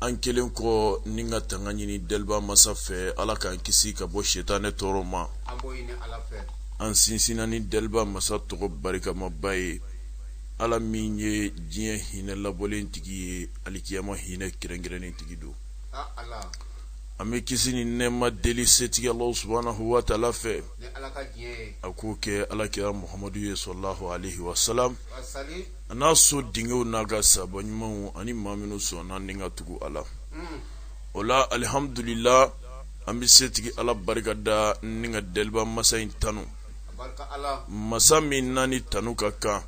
an kɛlen kɔ ni ka tanga ɲini deliba masa fɛ ala k'an kisi ka bɔ sitanɛ tɔɔrɔ ma an sinsinna ni deliba masa tɔgɔ barikamaba ye ala min ye diɲɛ hinɛ labɔlen tigi ye alikiyama hinɛ kɛrɛnkɛrɛnnen tigi don an bɛ kisi ni nɛma deli setigi ala subhanahu wa taala fɛ a k'o kɛ alakira muhamadu ye salalahu alayhi wa sa a n'a so denkɛw n'a ka sahaba ɲumanw ani maa minnu sɔnna ni ka tugu a la o la alihamdulila an bɛ setigi ala barika da ni ka deliba masa in tanu masa min n'a ni tanu ka kan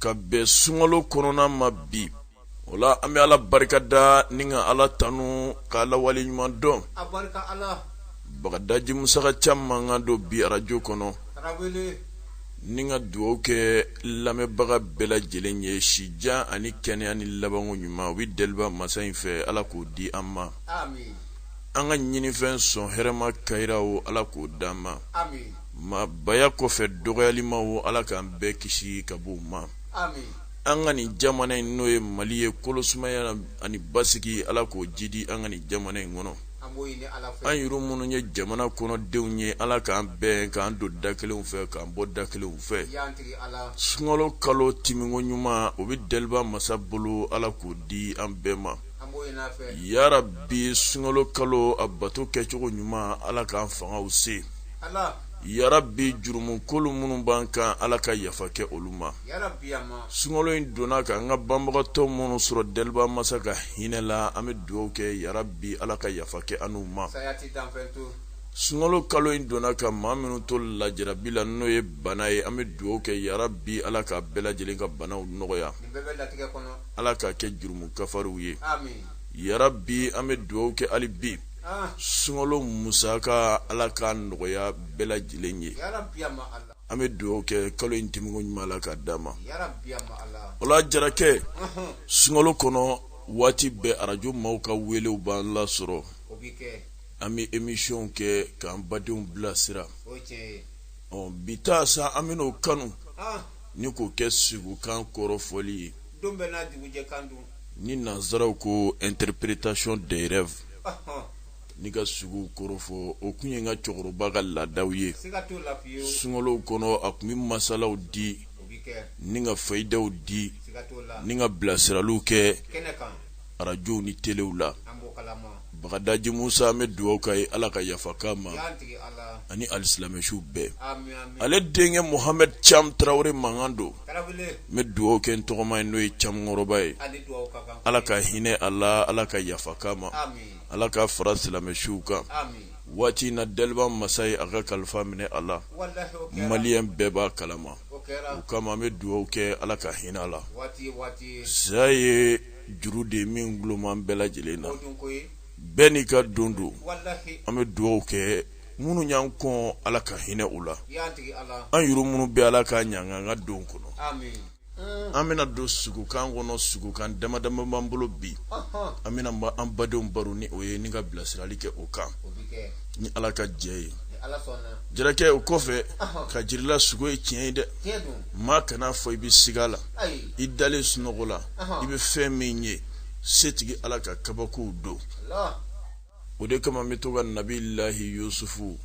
ka bɛn sunkalo kɔnɔna ma bi o la an bɛ ala barika da ni ka ala tanu ka ala wale ɲuman dɔn bagadaji musa caman mankan don bi arajo kɔnɔ ni ka dugaw kɛ lamɛnbaga bɛɛ lajɛlen ye sijan ani kɛnɛya ni labanko ɲuman u bɛ deliba masa in fɛ ala k'o di an ma an ka ɲinifɛn sɔn hɛrɛma kayira o ala k'o di an ma maa baya kɔfɛ dɔgɔyalima o ala k'an bɛɛ kisi ka bɔ u ma an ka nin jamana in n'o ye mali ye kolosumaya ani basigi ala k'o jidi an ka nin jamana in kɔnɔ an yɛrɛ minnu ye jamana kɔnɔdenw ye ala k'an bɛn k'an don da kelenw fɛ k'an bɔ da kelenw fɛ sunkalo kalo tɛmɛko ɲuman o bɛ deliba masa bolo ala k'o di an bɛɛ ma yarabi sunkalo kalo a bato kɛcogo ɲuman ala k'an fangaw se yarabi jurumukolo minnu b'an kan ala ka yafa kɛ olu ma sunkalo in donna ka an ka banbagatɔ minnu sɔrɔ deliba masa ka hinɛ la an bɛ dugawu kɛ yarabi ala ka yafa kɛ an n'u ma sunkalo kalo in donna ka maa minnu to lajarabi la n'o ye bana ye an bɛ dugawu kɛ yarabi ala ka bɛɛ lajɛlen ka banaw nɔgɔya ala k'a kɛ jurumu kafariw ye yarabi an bɛ dugawu kɛ hali bi sunkalo musaka ala k'a nɔgɔya bɛɛ lajɛlen ye an bɛ dugawu kɛ kalo in tɛmɛko ɲuman ala k'a d'an ma o la jarakɛ sunkalo kɔnɔ waati bɛɛ arajo maaw ka welew b'an lasɔrɔ an bɛ emisiyɔnw kɛ k'an badenw bilasira ɔ bi ta sa an bɛn'o kanu ni k'o kɛ siko kan kɔrɔfɔli ye ni nansaraw ko interprétation des rêves Ni ka sugo kɔrɔfɔ o kun ye n ka cɛkɔrɔba ka laadaw ye sunkalow kɔnɔ a kun bɛ masalaw di ni ka fayidaw di ni ka bilasiraliw kɛ arajow ni telew la bagadaji musa n bɛ dugawu k'a ye ala ka yafa k'a ma ani alisilamɛsiw bɛɛ ale denkɛ muhamɛdi cam tarawele mankan don n bɛ dugawu kɛ n tɔgɔma ye n'o ye cam kɔrɔba ye ala ka hinɛ a la ala ka yafa k'a ma Ala k'a fara silamɛsuw kan, amin, waati in na daliba masa ye a ka kalifa minɛ a la, walahi o kɛra, maliyɛn bɛɛ b'a kalama, o kɛra, o kama an bɛ dugawu kɛ Ala ka hinɛ a la, waati ye waati ye, saya ye juru de ye min gulon b'an bɛɛ lajɛlen na, o dun ko ye, bɛɛ n'i ka don don, walahi, an bɛ dugawu kɛ minnu y'an kɔn Ala ka hinɛ u la, yaa tigi Ala, an yuru minnu bɛ Ala k'a ɲɛ an ka an ka don kɔnɔ, amin an bɛna don sugokan kɔnɔ sugokan damadama b'an bolo bi an bɛna an badenw baro ni o ye ni ka bilasirali kɛ o kan ni ala ka jɛ ye jɛnɛkɛ o kɔfɛ k'a jira i la sugo ye tiɲɛ ye dɛ maa kana a fɔ i bɛ siga la i dalen sunɔgɔ la i bɛ fɛn min ye setigi ala ka kabakow don o de kama n bɛ to ka nabi lahi yusufu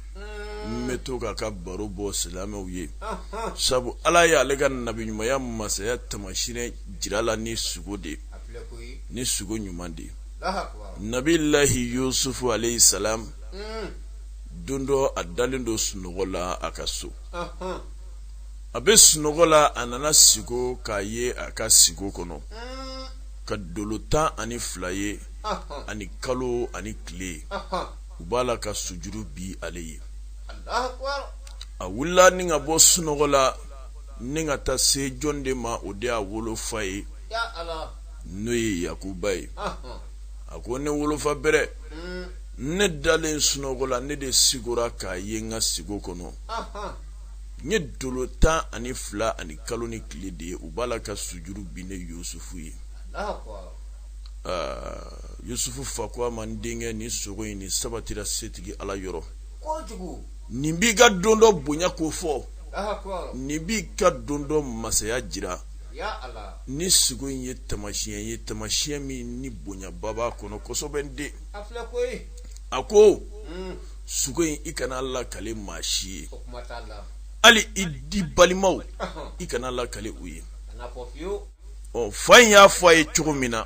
n bɛ to k'a ka baro bɔ silamɛw ye sabu ala ye ale ka nabi ɲumanya masaya tamasiyɛn jira a la ni sugo de ni sugo ɲuman de nabi lahi yusufu alayisalamu don dɔ a dalen don sunɔgɔ la a ka so a bɛ sunɔgɔ la a nana sigo k'a ye a ka sigo kɔnɔ ka dolo tan ani fila ye ani kalo ani tile u b'a la ka sujuru bin ale ye a wulila ni ka bɔ sunɔgɔ la ni ka taa se jɔn de ma o de y'a wolofa ye n'o ye yakuba ye a ko ne wolofa bɛrɛ ne dalen sunɔgɔ la ne de sigora k'a ye n ka sigo kɔnɔ n ye dolo tan ani fila ani kalo ni tile de ye u b'a la ka sujuru bin ne yusufu ye yusufu fa ko a ma n denkɛ ni sugo in ni sabatira setigi ala yɔrɔ nin b'i ka don dɔ bonya kofɔ nin b'i ka don dɔ masaya jira nin sugo in ye tamasiɲɛ ye tamasiɲɛ min ni bonyaba b'a kɔnɔ kosɛbɛ n den a ko suko in i kan'a lakale maa si ye hali i di balimaw i kan'a lakale u ye ɔ fa in y'a fɔ a ye cogo min na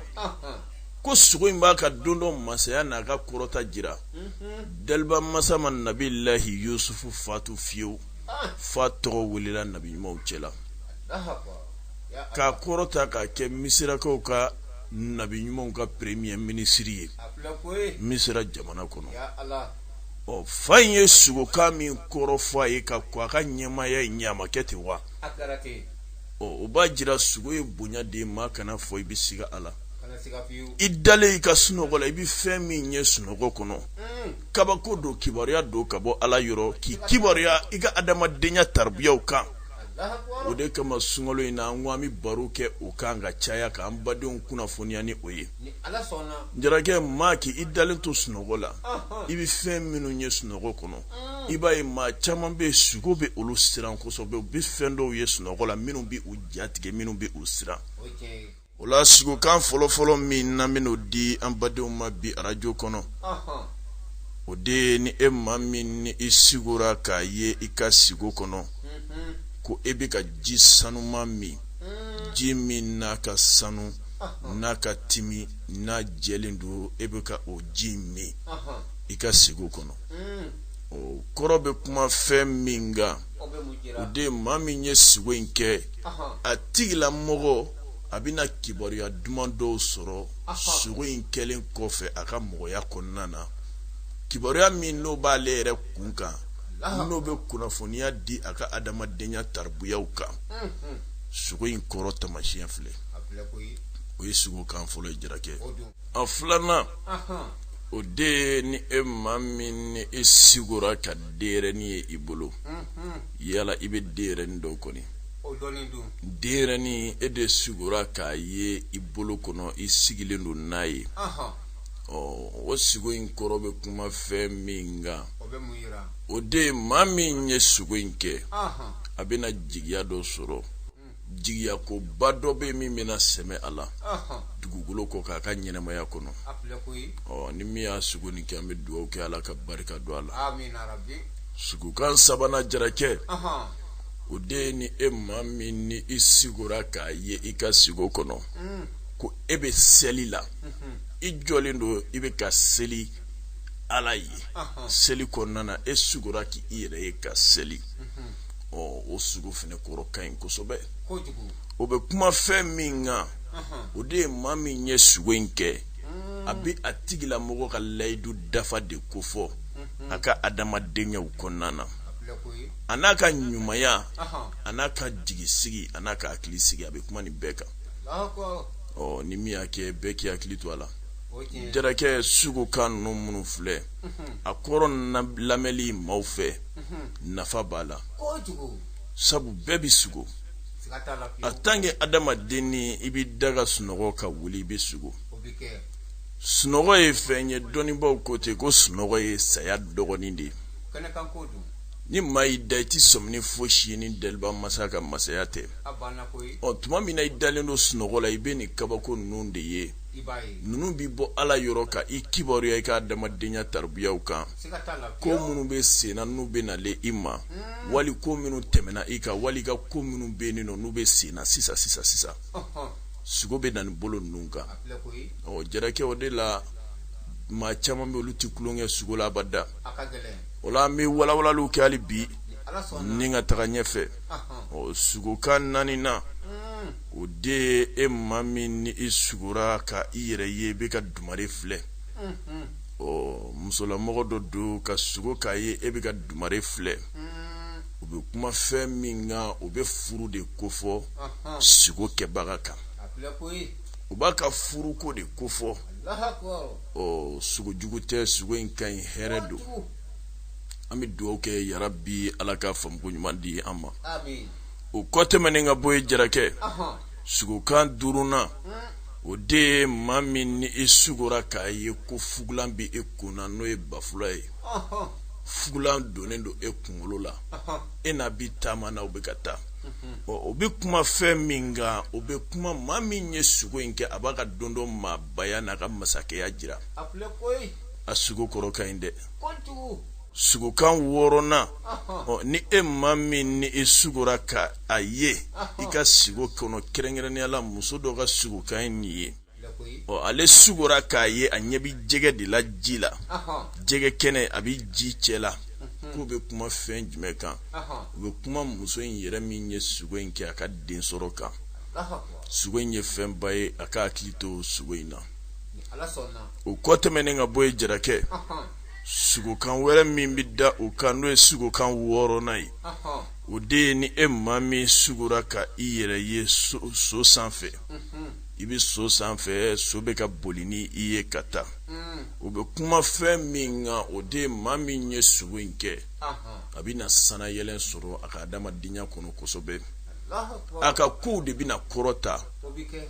ko sugo in b'a ka don dɔ masaya n'a ka kɔrɔta jira mhm. daliba masa ma nabi lahi yusufu fatu fiyewu ah. f'a tɔgɔ welela nabi ɲumanw cɛla k'a kɔrɔta k'a kɛ misirakaw ka nabi ɲumanw ka premier minisiri ye misira jamana kɔnɔ ɔ fa in ye sugokan min kɔrɔ fɔ a ye ka kɔn a ka ɲɛmaaya in ɲɛ a ma kɛ ten wa ɔ o b'a jira sugo ye bonya de ye maa kana fɔ i bɛ siga a la i dalen i ka sunɔgɔ la i bɛ fɛn min ye sunɔgɔ kɔnɔ hmm. kabako don kibaruya don ka bɔ ala yɔrɔ k'i kibaruya i ka adamadenya taribiyaw kan o de kama sunkalo in na an ko an bɛ baro kɛ o kan ka caya k'an badenw kunnafoniya ni o ye jarakɛ maa k'i dalen to sunɔgɔ la i bɛ fɛn minnu ye sunɔgɔ kɔnɔ i b'a ye maa caman bɛ yen sugo bɛ olu siran kosɛbɛ u bɛ fɛn dɔw ye sunɔgɔ la minnu bɛ u jatigɛ minnu bɛ u siran o la sugokan fɔlɔfɔlɔ min n'an bɛn'o di an badenw ma bi arajo kɔnɔ o de ye ni e maa min ni i sigora k'a ye i ka sigo kɔnɔ mhm. ko e bɛ ka ji sanuman min mm. ji min n'a ka sanu n'a ka timi n'a jɛlen don e bɛ ka o ji min i ka sigo kɔnɔ mm. o kɔrɔ bɛ kuma fɛn min kan o de ye maa min ye sigo in kɛ a tigilamɔgɔ a bɛna kibaruya duman dɔw sɔrɔ sugo in kɛlen kɔfɛ a ka mɔgɔya kɔnɔna na kibaruya min n'o b'ale yɛrɛ kun kan n'o bɛ kunnafoniya di a ka adamadenya taribuyaw kan mhm. sugo in kɔrɔ tamasiyɛn filɛ o ye sugokan fɔlɔ ye jarakɛ a filanan o de ye ni e maa min ni e sigora ka denyɛrɛni ye i bolo mhm. yala i bɛ denyɛrɛni dɔn kɔni denyɛrɛnin e de sigora k'a ye i bolo kɔnɔ i sigilen don n'a ye o sigo in kɔrɔ bɛ kuma fɛn min kan o de ye maa min ye sigo in kɛ a bɛna jigiya dɔ sɔrɔ hmm. jigiya koba dɔ bɛ min bɛna sɛmɛ a la dugukolo kɔ kan a ka ɲɛnamaya kɔnɔ ɔ ni min y'a sigo nin kɛ an bɛ dugawu kɛ ala ka barika don a la sugokan sabanan jarakɛ o de ye ni e maa min ni i sigora k'a ye i ka sigo kɔnɔ ko e bɛ seli la i jɔlen don i bɛ ka seli ala ye seli kɔnɔna e sugora k'i yɛrɛ ye ka seli ɔ o sugo fana kɔrɔ ka ɲi kosɛbɛ o bɛ kuma fɛn min kan o de ye maa min ye sugo in kɛ a bɛ a tigilamɔgɔ ka layidu dafa de kofɔ a ka adamadenyaw kɔnɔna na a n'a ka ɲumanya a n'a ka jigisigi a n'a ka hakilisigi a bɛ kuma nin bɛɛ kan ɔ ni min y'a kɛ bɛɛ k'i hakili to a la jarakɛ sugokan ninnu minnu filɛ a kɔrɔ lamɛnli maaw fɛ nafa b'a la sabu bɛɛ bɛ sugo en tant que adamaden ni i bɛ da ka sunɔgɔ ka wuli i bɛ sugo sunɔgɔ ye fɛn ye dɔnnibaaw ko ten ko sunɔgɔ ye saya dɔgɔnin de ye ni maa y'i da i tɛ sɔmi foyi si ni daba masa ka masaya tɛ ɔ tuma min na i dalen don sunɔgɔ la i bɛ nin kabako ninnu de ye ninnu bɛ bɔ ala yɔrɔ ka i kibaruya i ka adamadenya tabiyaw kan ko minnu bɛ sen na n'u bɛ nalen i ma hmm. wali ko minnu tɛmɛna i kan wali ka ko minnu bɛ yen nɔ n'u bɛ sen na sisan sisan sisan sugo bɛ na nin bolo ninnu kan ɔ jarakɛ o de la maa caman bɛ olu tɛ tulon kɛ sugo la abada o la an bɛ walawalali kɛ hali bi ni ka taga ɲɛfɛ ɔ sugokan naaninan hmm. o de ye e maa min ni i sugora ka i yɛrɛ ye i bɛ ka dumare filɛ hmm, hmm. ɔ musolamɔgɔ dɔ don ka sugo k'a ye e bɛ ka dumare filɛ o bɛ kuma fɛn min kan o bɛ furu de kofɔ sugo kɛbaga kan o b'a ka furuko de kofɔ ɔ sugo jugu tɛ sugo in ka ɲi hɛrɛ don an bɛ dugawu kɛ yarabi ala ka faamuko ɲuman di an ma o kɔ tɛmɛnen ka bɔ yen jarakɛ sugokan duurunan hmm. o de ye maa min ni i sugora k'a ye ko fugulan bɛ e kun na n'o ye banfula ye fugulan donnen don e kunkolo la e n'a bi taama na o bɛ ka taa o bɛ kuma fɛn min kan o bɛ kuma maa min ye sugo in kɛ a b'a ka don dɔ maa baya n'a ka masakɛya jira a sugo kɔrɔ ka ɲi dɛ sugokan wɔɔrɔnan ni e maa min ni i sugora ka a ye i ka sugo kɔnɔ kɛrɛnkɛrɛnnenya la muso dɔ ka sugokan ye nin ye ɔ ale sugora k'a ye a ɲɛ bɛ jɛgɛ de la ji la jɛgɛ kɛnɛ a bɛ ji cɛ la k'o bɛ kuma fɛn jumɛn kan o bɛ kuma muso in yɛrɛ min ye sugo in kɛ a ka den sɔrɔ kan sugo in ye fɛnba ye a ka hakili to sugo in na o kɔ tɛmɛnen ka bɔ yen jarakɛ sugokan wɛrɛ min bɛ da o kan n'o ye sugokan wɔɔrɔnan ye o de ye ni e maa min sugora ka i yɛrɛ ye so sanfɛ i bɛ so sanfɛ so bɛ ka boli ni i ye ka taa o bɛ kuma fɛn min kan o de ye maa min ye sugo in kɛ a bɛ na sannayɛlɛn sɔrɔ a ka adamadenya kɔnɔ kosɛbɛ a ka kow de bɛna kɔrɔta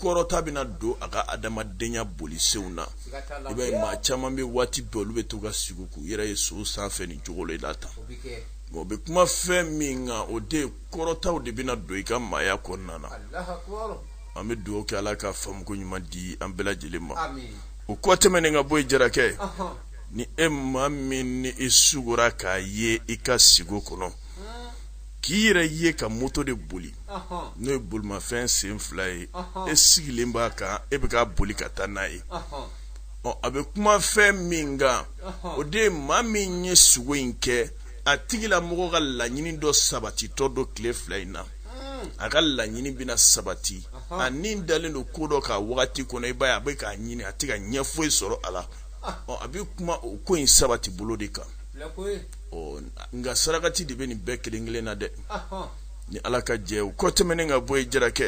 kɔrɔta bɛna don a ka adamadenya bolisenw na i b'a ye maa caman bɛ waati bɛɛ olu bɛ to ka sugo k'u yɛrɛ ye so sanfɛ nin cogo la tan o bɛ kuma fɛn min kan o de kɔrɔtaw de bɛna don i ka maaya kɔnɔna na an bɛ dugawu kɛ ala ka faamuko ɲuman di an bɛɛ lajɛlen ma o kɔ tɛmɛnen ka bɔ yen jarakɛ ni e maa min ni i sugora k'a ye i ka sugo kɔnɔ k'i yɛrɛ ye ka moto de boli n'o ye bolimafɛn sen fila ye e sigilen b'a kan e bɛ ka boli ka taa n'a ye ɔ a bɛ kuma fɛn min kan o de ye maa min ye sugo in kɛ a tigilamɔgɔ ka laɲini dɔ sabatitɔ don tile fila in na a ka laɲini bɛna sabati a ni dalen don ko dɔ kan wagati kɔnɔ i b'a ye a bɛ k'a ɲini a tɛ ka ɲɛ foyi sɔrɔ a la a bɛ kuma o ko in sabati bolo de kan nka sarakati de bɛ nin bɛɛ kelen kelen na dɛ ni ala ka jɛ o kɔ tɛmɛnen ka bɔ yen jarakɛ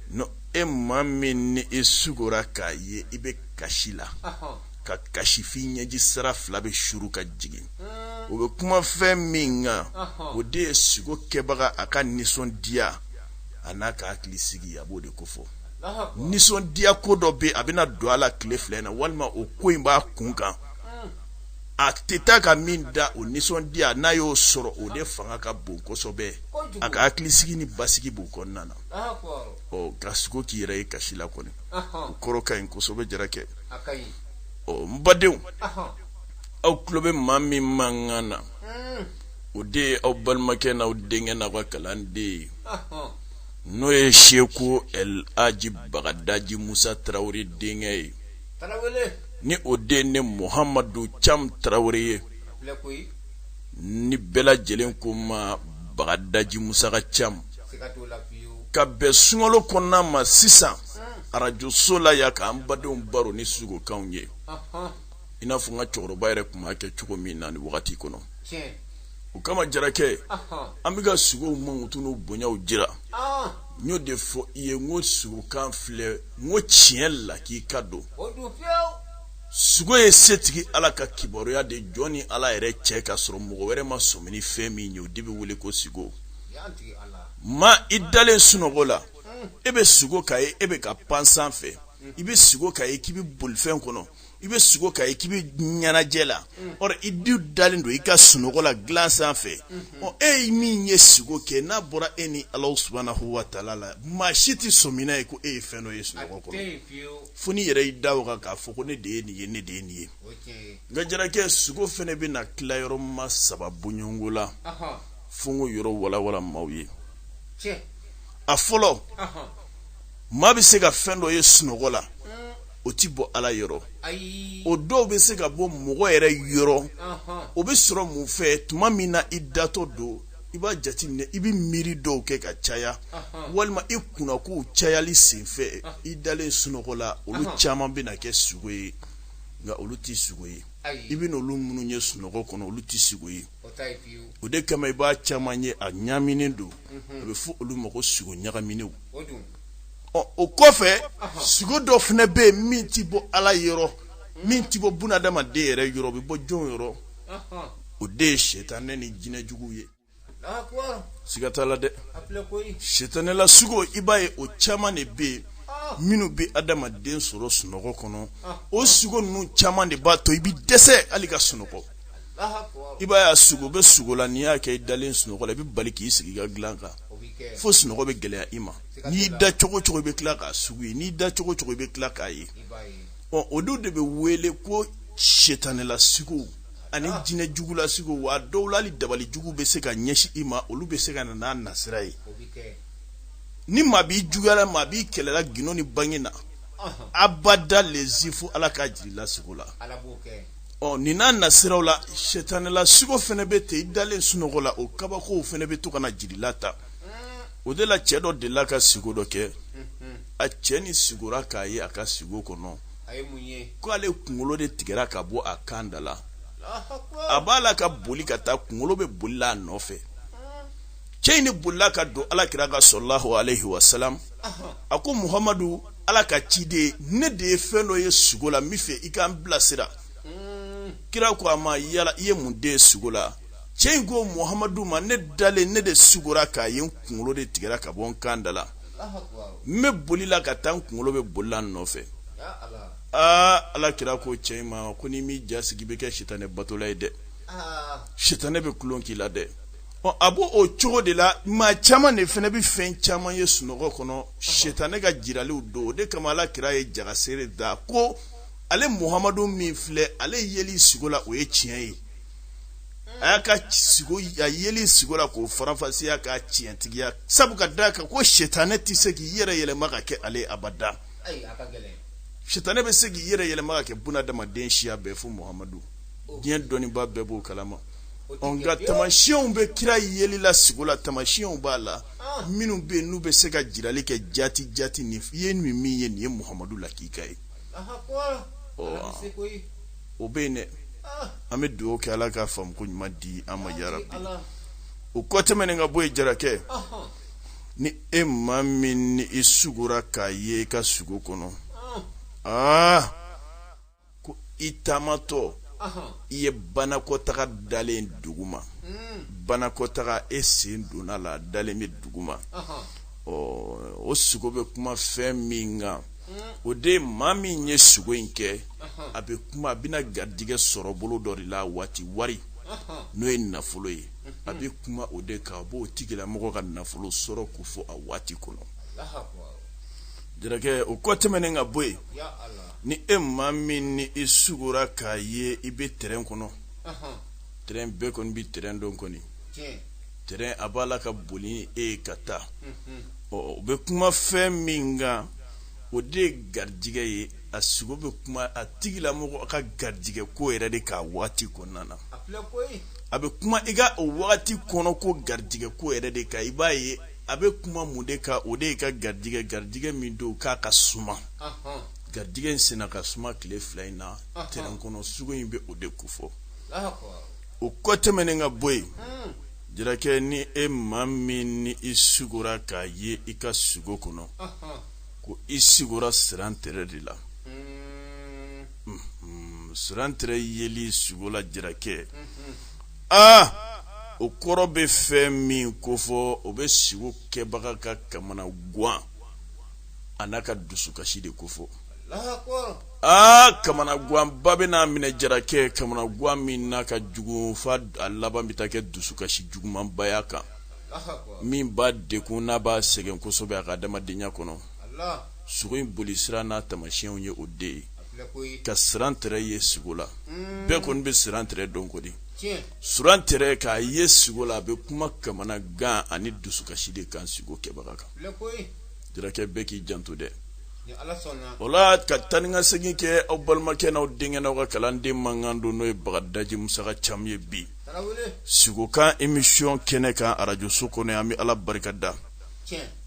ni e maa min ni i sugora k'a ye i bɛ kasi la ka kasi f'i ɲɛji sira fila bɛ suru ka jigin o bɛ kuma fɛn min kan o de ye sugo kɛbaga a ka nisɔndiya a n'a ka hakili sigi a b'o de kofɔ nisɔndiya ko dɔ bɛ a bɛna don a la tile fila in na walima o ko in b'a kun kan a tɛ taa ka min dan o nisɔndiya n'a y'o sɔrɔ o de fanga ka bon kosɛbɛ a ka hakilisigi ni basigi b'o kɔnɔna na ɔ ka sugo k'i yɛrɛ ye kasi la kɔni o kɔrɔ ka ɲi kosɛbɛ jarakɛ ɔ n badenw aw tulo bɛ maa min mankan na hmm. o de ye aw balimakɛ n'aw denkɛ n'aw ka kalanden ye n'o ye seku el haji bagadaji musa tarawele denkɛ ye ni o de ne muhamadu cam tarawele ye ni bɛɛ lajɛlen ko n ma bagadaji musa ka cam ka bɛn sunkalo kɔnɔna ma sisan arajoso la yan k'an badenw baro ni sugokanw ye i n'a fɔ n ka cɛkɔrɔba yɛrɛ tun b'a kɛ cogo min na nin wagati kɔnɔ o kama jarakɛ an bɛ ka sugow mankutu n'u bonyaw jira n y'o de fɔ i ye n ko sugokan filɛ n ko tiɲɛ la k'i k'a dɔn sugo ye setigi ala ka kibaruya de jɔn ni ala yɛrɛ cɛ k'a sɔrɔ mɔgɔ wɛrɛ ma sɔmi ni fɛn min ye o de bɛ wele ko sugo ma i dalen sunɔgɔ la e bɛ sugo k'a ye e bɛ ka pan sanfɛ i bɛ sugo k'a ye k'i bɛ bolifɛn kɔnɔ i bɛ sugo k'a ye k'i bɛ ɲɛnajɛ la i dun dalen don i ka sunɔgɔ la dilan sanfɛ e ye min ye sigo kɛ n'a bɔra e ni ala subhanahu wa taala la maa si tɛ sɔmina ye ko e ye fɛn dɔ ye sunɔgɔ kɔnɔ fo n'i yɛrɛ y'i da o kan k'a fɔ ko ne de ye nin ye ne de ye nin ye nka jarakɛ sugo fana bɛ na tila yɔrɔ ma saba bɔɲɔgɔnko la fo n k'o yɔrɔ walawala maaw ye a fɔlɔ maa bɛ se ka fɛn dɔ ye sunɔgɔ la o tɛ bɔ ala yɔrɔ o dɔw bɛ se ka bɔ mɔgɔ yɛrɛ yɔrɔ o bɛ sɔrɔ mun fɛ tuma min na i datɔ don i b'a jateminɛ i bɛ miiri dɔw kɛ ka caya walima i kunnakow cayali senfɛ i dalen sunɔgɔ la olu caman bɛ na kɛ sugo ye nka olu tɛ sugo ye i bɛ n'olu minnu ye sunɔgɔ kɔnɔ olu tɛ sugo ye o de kama i b'a caman ye a ɲaminen don a bɛ fɔ olu ma ko sugo ɲagaminenw ɔ o kɔfɛ sugo dɔ fana bɛ yen min tɛ bɔ ala yɔrɔ min tɛ bɔ bunadamaden yɛrɛ yɔrɔ o bɛ bɔ jɔn yɔrɔ o de ye sitanɛ ni jinɛjuguw ye siga t'a la dɛ sitanɛla sugo i b'a ye o caman de bɛ yen minnu bɛ adamaden sɔrɔ sunɔgɔ kɔnɔ o sugo ninnu caman de b'a to i bɛ dɛsɛ hali ka sunɔgɔ i b'a y'a sugo bɛ sugo la n'i y'a kɛ i dalen sunɔgɔ la i bɛ bali k'i sigi i ka dilan kan fo sunɔgɔ bɛ gɛlɛya i ma n'i da cogo cogo i bɛ tila k'a sugu ye n'i da cogo cogo i bɛ tila k'a ye ɔ o dun de bɛ wele ko setanɛla sigow ani jinɛ jugula sigow wa dɔw la hali dabali jugu bɛ se ka ɲɛsin i ma olu bɛ se ka na n'a nasira ye ni maa b'i juguyala maa b'i kɛlɛla gindo ni bange na abada lezi fo ala k'a jir'i la sigo la ɔ nin n'a nasiraw la sɛtanɛla sigo fana bɛ ten i dalen sunɔgɔ la o kabakow fana bɛ to ka na jir'i la ta o de la cɛ dɔ delila ka sigo dɔ kɛ a cɛ ni sigora k'a ye a ka sigo kɔnɔ ko ale kunkolo de tigɛra ka bɔ a kan da la a b'a la ka boli ka taa kunkolo bɛ boli la a nɔfɛ cɛ in de bolila ka don ala kira kan salalahu alayhi wa salam a ko muhamadu ala ka ciden ne de ye fɛn dɔ ye sugo la n bɛ fɛ i ka n bilasira kira ko a ma yala i ye mun de ye sugo la cɛ in ko muhamadu ma ne dalen ne de sugora k'a ye n kunkolo de tigɛra ka bɔ n kan da la n bɛ boli la ka taa n kunkolo bɛ boli la n nɔfɛ aa ala kira ko cɛ in ma ko n'i m'i jasigi i bɛ kɛ sitanɛ batola ye dɛ sitanɛ bɛ tulon k'i la dɛ ɔ a b'o o cogo de la maa caman de fana bɛ fɛn caman ye sunɔgɔ kɔnɔ setanɛ ka jiraliw don o de kama ala kira ye jagasere da ko ale muhamadu min filɛ ale yeli sigo la o ye tiɲɛ ye a y'a ka sigo a yeli sigo la k'o faranfasiya k'a tiɲɛtigiya sabu ka da kan ko setanɛ tɛ se k'i yɛrɛ yɛlɛma ka kɛ ale abada setanɛ bɛ se k'i yɛrɛ yɛlɛma ka kɛ bunadamaden siya bɛɛ fo muhamadu diɲɛ dɔnniba bɛɛ b'o kalama nka tamasiyɛnw bɛ kira yeli la sigo la tamasiyɛnw b'a la ah. minnu bɛ yen n'u bɛ se ka jirali kɛ jati jati nin i ye nin min ye nin ye muhamadu lakika ye o bɛ yen dɛ ah. an bɛ dugawu kɛ ala ka faamu ko ɲuman di an ma yarabi o kɔ tɛmɛnen ka bɔ yen jarakɛ ni e maa min ni i sugora k'a ye i ka sugo kɔnɔ aa ah. ko i taamatɔ i ye banakɔtaga dalen duguma hmm. banakɔtaga e sen donn'a la dalen bɛ duguma ɔ o sugo bɛ kuma fɛn min kan o de maa min ye sugo in kɛ a bɛ kuma a bɛna garijɛgɛ sɔrɔ bolo dɔ de la waati wari n'o ye nafolo ye a bɛ kuma o de kan a b'o tigilamɔgɔ ka nafolo sɔrɔ kofɔ a waati kɔnɔ jarakɛ o kɔ tɛmɛnen ka bɔ yen ni e maa min ni i sugora k'a ye i bɛ tɛrɛn kɔnɔ tɛrɛn bɛɛ kɔni bɛ tɛrɛn dɔn kɔni tɛrɛn a b'a la ka boli ni e ye ka taa ɔ o bɛ kuma fɛn min kan o de ye garijɛgɛ ye a sugo bɛ kuma a tigilamɔgɔ ka garijɛgɛ ko yɛrɛ de kan a waati kɔnɔna na a bɛ kuma i ka o waati kɔnɔ ko garijɛgɛ ko yɛrɛ de kan i b'a ye a bɛ kuma mun de kan o de y'i ka garijɛgɛ garijɛgɛ min don k'a ka suma garijɛgɛ in senna ka suma tile fila in na tɛrɛn kɔnɔ sugo in bɛ o de kofɔ o kɔ tɛmɛnen ka bɔ yen hmm. jarakɛ ni e maa min ni i sugora k'a ye i ka sugo kɔnɔ ko i sigora sirantɛrɛ de la hmm. Hmm, sirantɛrɛ yeli sugo la jarakɛ aa o kɔrɔ bɛ fɛn min kofɔ o bɛ sigo kɛbaga ka kamanagan a n'a ka dusukasi de kofɔ aa kamanaganba bɛn'a minɛ jarakɛ kamanagan min n'a ka jugu fo a laban bɛ taa kɛ dusukasi jugumanba y'a kan min b'a degun n'a b'a sɛgɛn kosɛbɛ a ka adamadenya kɔnɔ sugo in boli sira n'a tamasiyɛnw ye o de ye ka sirantɛrɛ ye sugo la bɛɛ kɔni bɛ sirantɛrɛ dɔn kɔni surantɛrɛ k'a ye sugo la a bɛ kuma kamanagan ani dusukasi de kan sugo kɛbaga kan jarakɛ bɛɛ k'i janto dɛ o la ka taa ni ka segin kɛ aw balimakɛ n'aw denkɛ n'aw ka kalanden mankan don n'o ye bagadaji musaka camu ye bi sugokan emisiyɔn kɛnɛ kan arajoso kɔnɔ an bɛ ala barika da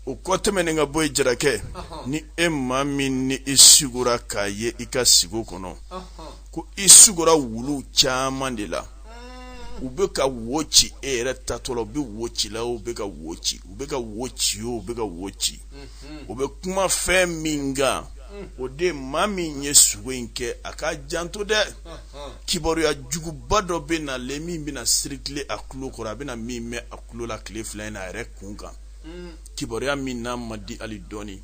o kɔ tɛmɛnen ka bɔ yen jarakɛ ni e maa min ni i sugora k'a ye i ka sigo kɔnɔ ko i sugora wulu caman de la hmm. u bɛ ka wo ci e yɛrɛ tatɔ la u bɛ wo ci la u bɛ ka wo ci u bɛ ka wo ci o u bɛ ka wo ci hmm. o bɛ kuma fɛn min kan hmm. o de maa min ye sugo in kɛ a k'a janto dɛ kibaruya juguba dɔ bɛ na le min bɛna sirikile a tulo kɔrɔ a bɛna min mɛn a tulo la tile fila in na a yɛrɛ kun kan kibaruya min n'a ma di hali dɔɔnin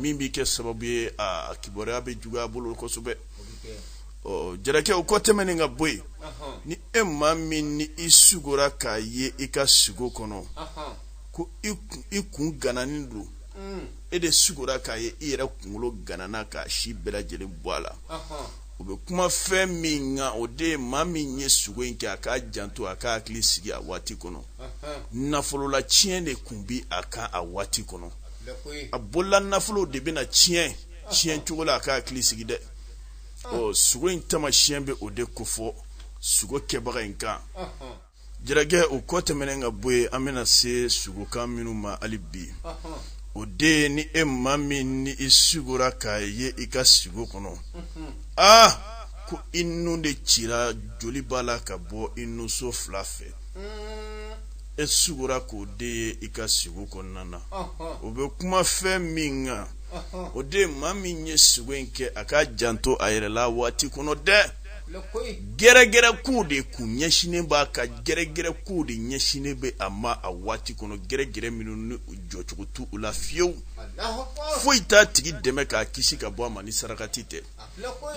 min bɛ kɛ sababu ye a kibaruya bɛ juguya bolo kosɛbɛ ɔ jarakɛ o kɔ tɛmɛnen ka bɔ yen ni e maa min ni i sugora k'a ye i ka sugo kɔnɔ ko i kun gananin don e de sugora k'a ye i yɛrɛ kunkolo ganana k'a si bɛɛ lajɛlen bɔ a la o bɛ kuma fɛn min kan o de ye maa min ye sugo in kɛ a k'a janto a k'a hakili sigi a waati kɔnɔ nafolola tiɲɛ de kun bɛ a kan a waati kɔnɔ a bolola nafolo de bɛna tiɲɛ tiɲɛ cogo la a k'a hakili sigi dɛ ɔ sugo in tamasiyɛn bɛ o de kofɔ sugo kɛbaga in kan jarakɛ o kɔ tɛmɛnen ka bɔ yen an bɛna se sugokan minnu ma hali bi o de ye ni e maa min ni i sugora k'a ye i ka sugo kɔnɔ aa ko i nun de cira joli b'a la ka bɔ i nuso fila fɛ e sugora k'o de ye i ka sugo kɔnɔna na o bɛ kuma fɛn min kan o de maa min ye sugo in kɛ a k'a janto a yɛrɛ la waati kɔnɔ dɛ gɛrɛgɛrɛ kow de kun ɲɛsinnen b'a kan gɛrɛgɛrɛ kow de ɲɛsinnen bɛ a ma a waati kɔnɔ gɛrɛgɛrɛ minnu ni jɔcogo t'u la fiyewu foyi t'a tigi dɛmɛ k'a kisi ka bɔ a ma ni sarakati tɛ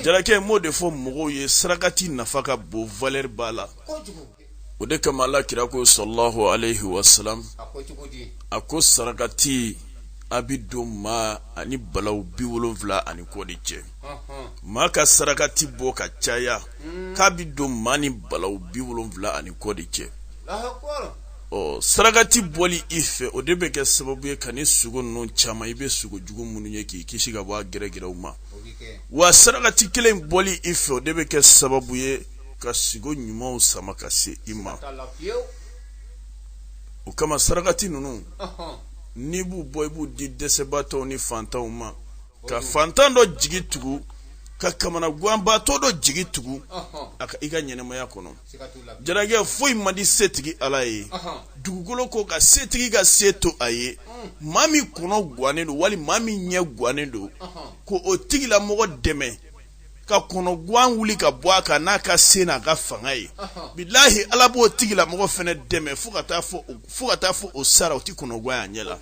jarakɛ m'o de fɔ mɔgɔw ye sarakati nafa ka bon valeur b'a la o de kama ala kira ko sallallahu alayhi wa sallam a ko sarakati a bɛ don maa ani balaw bi wolonfila ani kɔ de cɛ maa ka sarakati bɔ ka caya hmm. k'a bɛ don maa ni balaw bi wolonfila ani kɔ de cɛ ɔ sarakati bɔli i fɛ o de bɛ kɛ sababu ye ka ni sugo ninnu caman i bɛ sugo jugu minnu ye k'i kisi ka bɔ a gɛrɛgɛrɛw ma wa sarakati kelen bɔli i fɛ o de bɛ kɛ sababu ye ka sigo ɲumanw sama ka se i ma o kama sarakati ninnu n'i b'u bɔ i b'u di dɛsɛbaatɔw ni fantanw ma ka fantan dɔ jigi tugu ka kamana ganbaatɔ dɔ jigi tugu a ka i ka ɲɛnɛmaya kɔnɔ jarakɛ foyi man di setigi ala ye dugukolo kɔ kan setigi ka se to a ye mm. maa min kɔnɔ gannen don wali maa min ɲɛ gannen don ko o tigilamɔgɔ dɛmɛ ka kɔnɔgan wuli ka bɔ a kan n'a ka se n'a ka fanga ye bilahi ala b'o tigilamɔgɔ fɛnɛ dɛmɛ fo ka t'a fɔ o sara o tɛ kɔnɔgan y'a ɲɛ la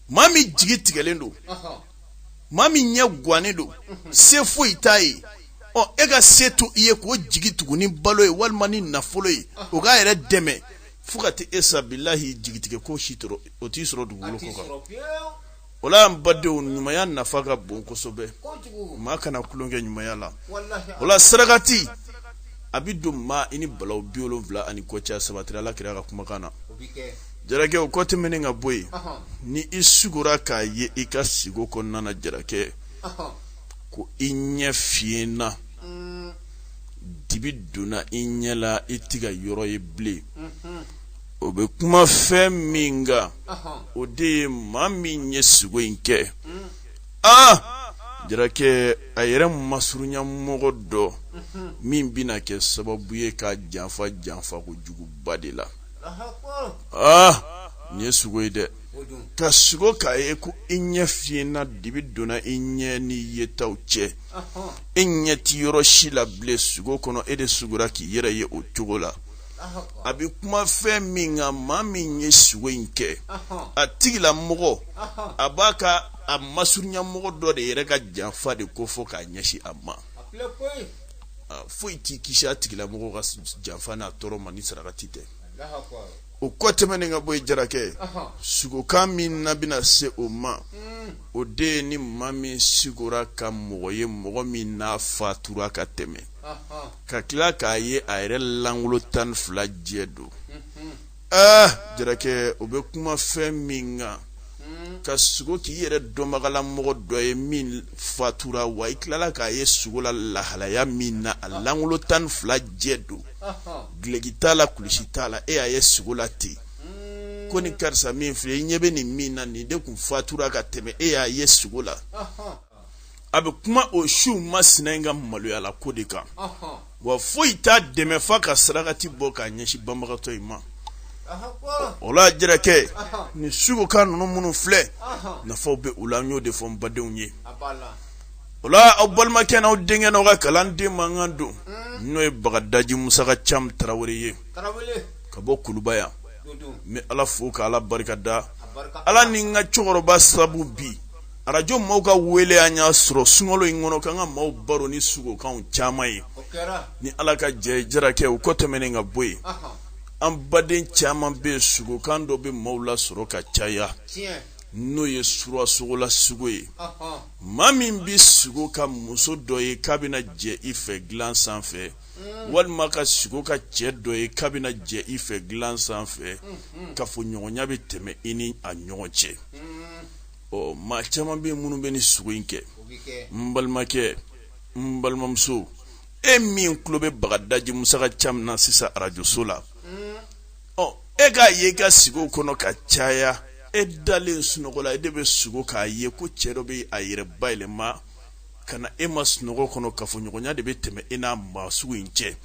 maa min jigi tigɛlen don maa min ɲɛ gannen don se foyi t'a ye ɔ e ka se to i ye k'o jigi tugu ni balo ye walima ni nafolo ye o k'a yɛrɛ dɛmɛ fo ka taa e sa bilahi jigitigɛ ko si o t'i sɔrɔ dugukolo kɔ kan o la an badenw ɲumanya nafa ka bon kosɛbɛ maa kana tulonkɛ ɲumanya la o la sarakati a bɛ don maa i ni balaw bi wolonwula ani kɔ cɛ sabatira ala kira ka kumakan na jarakɛ o kɔ tɛmɛnen ka bɔ yen ni i sugora k'a ye i ka sigo kɔnɔna na jarakɛ ko i ɲɛ fiyɛnna mm. dibi donna i ɲɛ la i tɛ ka yɔrɔ ye bilen o bɛ kuma fɛn min kan o de ye maa min ye sugo in kɛ aa jarakɛ a yɛrɛ masurunya mɔgɔ dɔ min bɛna kɛ sababu ye k'a janfa janfa ko juguba de la aa nin ye sugo ye dɛ ka sugo k'a ye ko i ɲɛ fiyɛnna dibi donna i ɲɛ ni yetaw cɛ e ɲɛ tɛ yɔrɔ si la bilen sugo kɔnɔ e de sugora k'i yɛrɛ ye o cogo la a bɛ kuma fɛn min kan maa min ye sugo in kɛ a tigilamɔgɔ a b'a ka a masurunyamɔgɔ dɔ de yɛrɛ ka janfa de ko fɔ k'a ɲɛsin a ma foyi t'i kisi a tigilamɔgɔ ka janfa n'a tɔɔrɔ ma ni sarakati tɛ o kɔ tɛmɛnen ka bɔ yen jarakɛ sugokan min na bɛna se o ma mm. o de ye ni maa min sigora ka mɔgɔ ye mɔgɔ min n'a fatura ka tɛmɛ ka tila k'a ye a yɛrɛ lankolon tan ni fila jɛ don aa jarakɛ o bɛ kuma fɛn min kan ka sugo k'i yɛrɛ dɔnbagala mɔgɔ dɔ ye min fatura wa i tilala k'a ye sugo la lahalaya min na a lankolon tan ni fila jɛ don gileki t'a la kulusi t'a la e y'a ye sugo la ten ko ni karisa min filɛ i ɲɛ bɛ nin min na nin de tun fatura ka tɛmɛ e y'a ye sugo la a bɛ kuma o su masina in ka maloya la ko de kan wa foyi t'a dɛmɛ fa ka sarakati bɔ k'a ɲɛsin banbagatɔ in ma o la jarakɛ ni sugokan ninnu minnu filɛ nafaw bɛ u la n y'o de fɔ n badenw ye o la aw balimakɛ n'aw denkɛ n'aw ka kalanden mankan don n'o ye bagadaji musaka cam tarawele ye ka bɔ kuluba yan n bɛ ala fo ka ala barika da ala ni n ka cɛkɔrɔba sabu bi arajo maaw ka wele an y'a sɔrɔ sunkalo in kɔnɔ k'an ka maaw baro ni sugokan caman ye ni ala ka jɛ jarakɛ u kɔ tɛmɛnen ka bɔ yen an baden caman bɛ yen sugokan dɔ bɛ maaw la sɔrɔ ka caya n'o ye sulasogola sugo ye maa min bɛ sugo ka muso dɔ ye k'a bɛna jɛ i fɛ dilan sanfɛ mm. walima ka sugo ka cɛ dɔ ye k'a bɛna jɛ i fɛ dilan sanfɛ mm-hmm. kafoɲɔgɔnya bɛ tɛmɛ i ni a ɲɔgɔn cɛ mm. ɔ maa caman bɛ minnu bɛ ni sugo in kɛ n balimakɛ n balimamuso e min tulo bɛ bagadaji musaka cam na sisan arajoso la ɔ e k'a ye i ka sugo kɔnɔ ka caya e dalen sunɔgɔ la e de bɛ sugo k'a ye ko cɛ dɔ bɛ a yɛrɛ bayɛlɛma ka na e ma sunɔgɔ kɔnɔ kafoɲɔgɔnya de bɛ tɛmɛ e n'a maa sugu in cɛ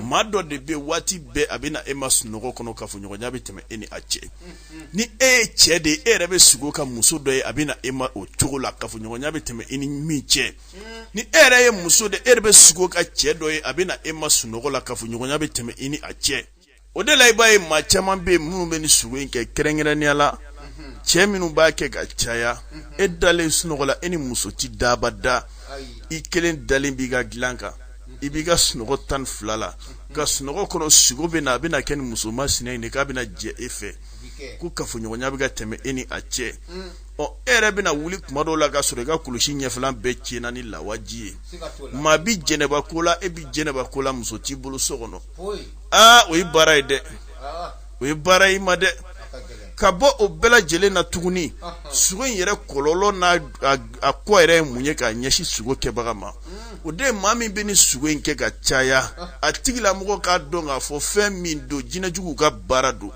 maa dɔ de bɛ waati bɛɛ a bɛ na e ma sunɔgɔ kɔnɔ kafoɲɔgɔnya bɛ tɛmɛ e ni a cɛ ni e ye cɛ de e yɛrɛ bɛ sugo ka muso dɔ ye a bɛ na e ma o cogo la kafoɲɔgɔnya bɛ tɛmɛ e ni min cɛ ni e yɛrɛ ye muso de e yɛrɛ bɛ sugo ka cɛ dɔ ye a bɛ na e ma sunɔgɔ la kafoɲɔgɔnya bɛ tɛmɛ e ni a cɛ O de la i b'a ye maa caman bɛ minnu bɛ ni sugo in kɛ kɛrɛnkɛrɛnnenya la cɛ minnu b'a kɛ ka caya e dalen sunɔgɔ la e ni muso tɛ da abada i kelen dalen b'i ka dilan kan i b'i ka sunɔgɔ tan ni fila la ka sunɔgɔ kɔnɔ sugo bɛ na a bɛna kɛ ni muso masina in de k'a bɛna jɛ e fɛ ko kafoɲɔgɔnya bɛ ka tɛmɛ e ni a cɛ ɔ e yɛrɛ bɛna wuli kuma dɔw la ka sɔrɔ i ka kulusi ɲɛfɛla bɛɛ tiɲɛna ni lawaji ye maa bɛ jɛnɛba ko la e bɛ jɛnɛba ko la muso t'i bolo so kɔnɔ aa o ye baara ye dɛ o ye baara ye ma dɛ ka bɔ o bɛɛ lajɛlen na tuguni sugo in yɛrɛ kɔlɔlɔ n'a a ko yɛrɛ ye mun ye k'a ɲɛsin sugo kɛbaga ma o de ye maa min bɛ ni sugo in kɛ ka caya a tigilamɔgɔ k'a dɔn k'a fɔ fɛn min don jinɛjuguw ka baara don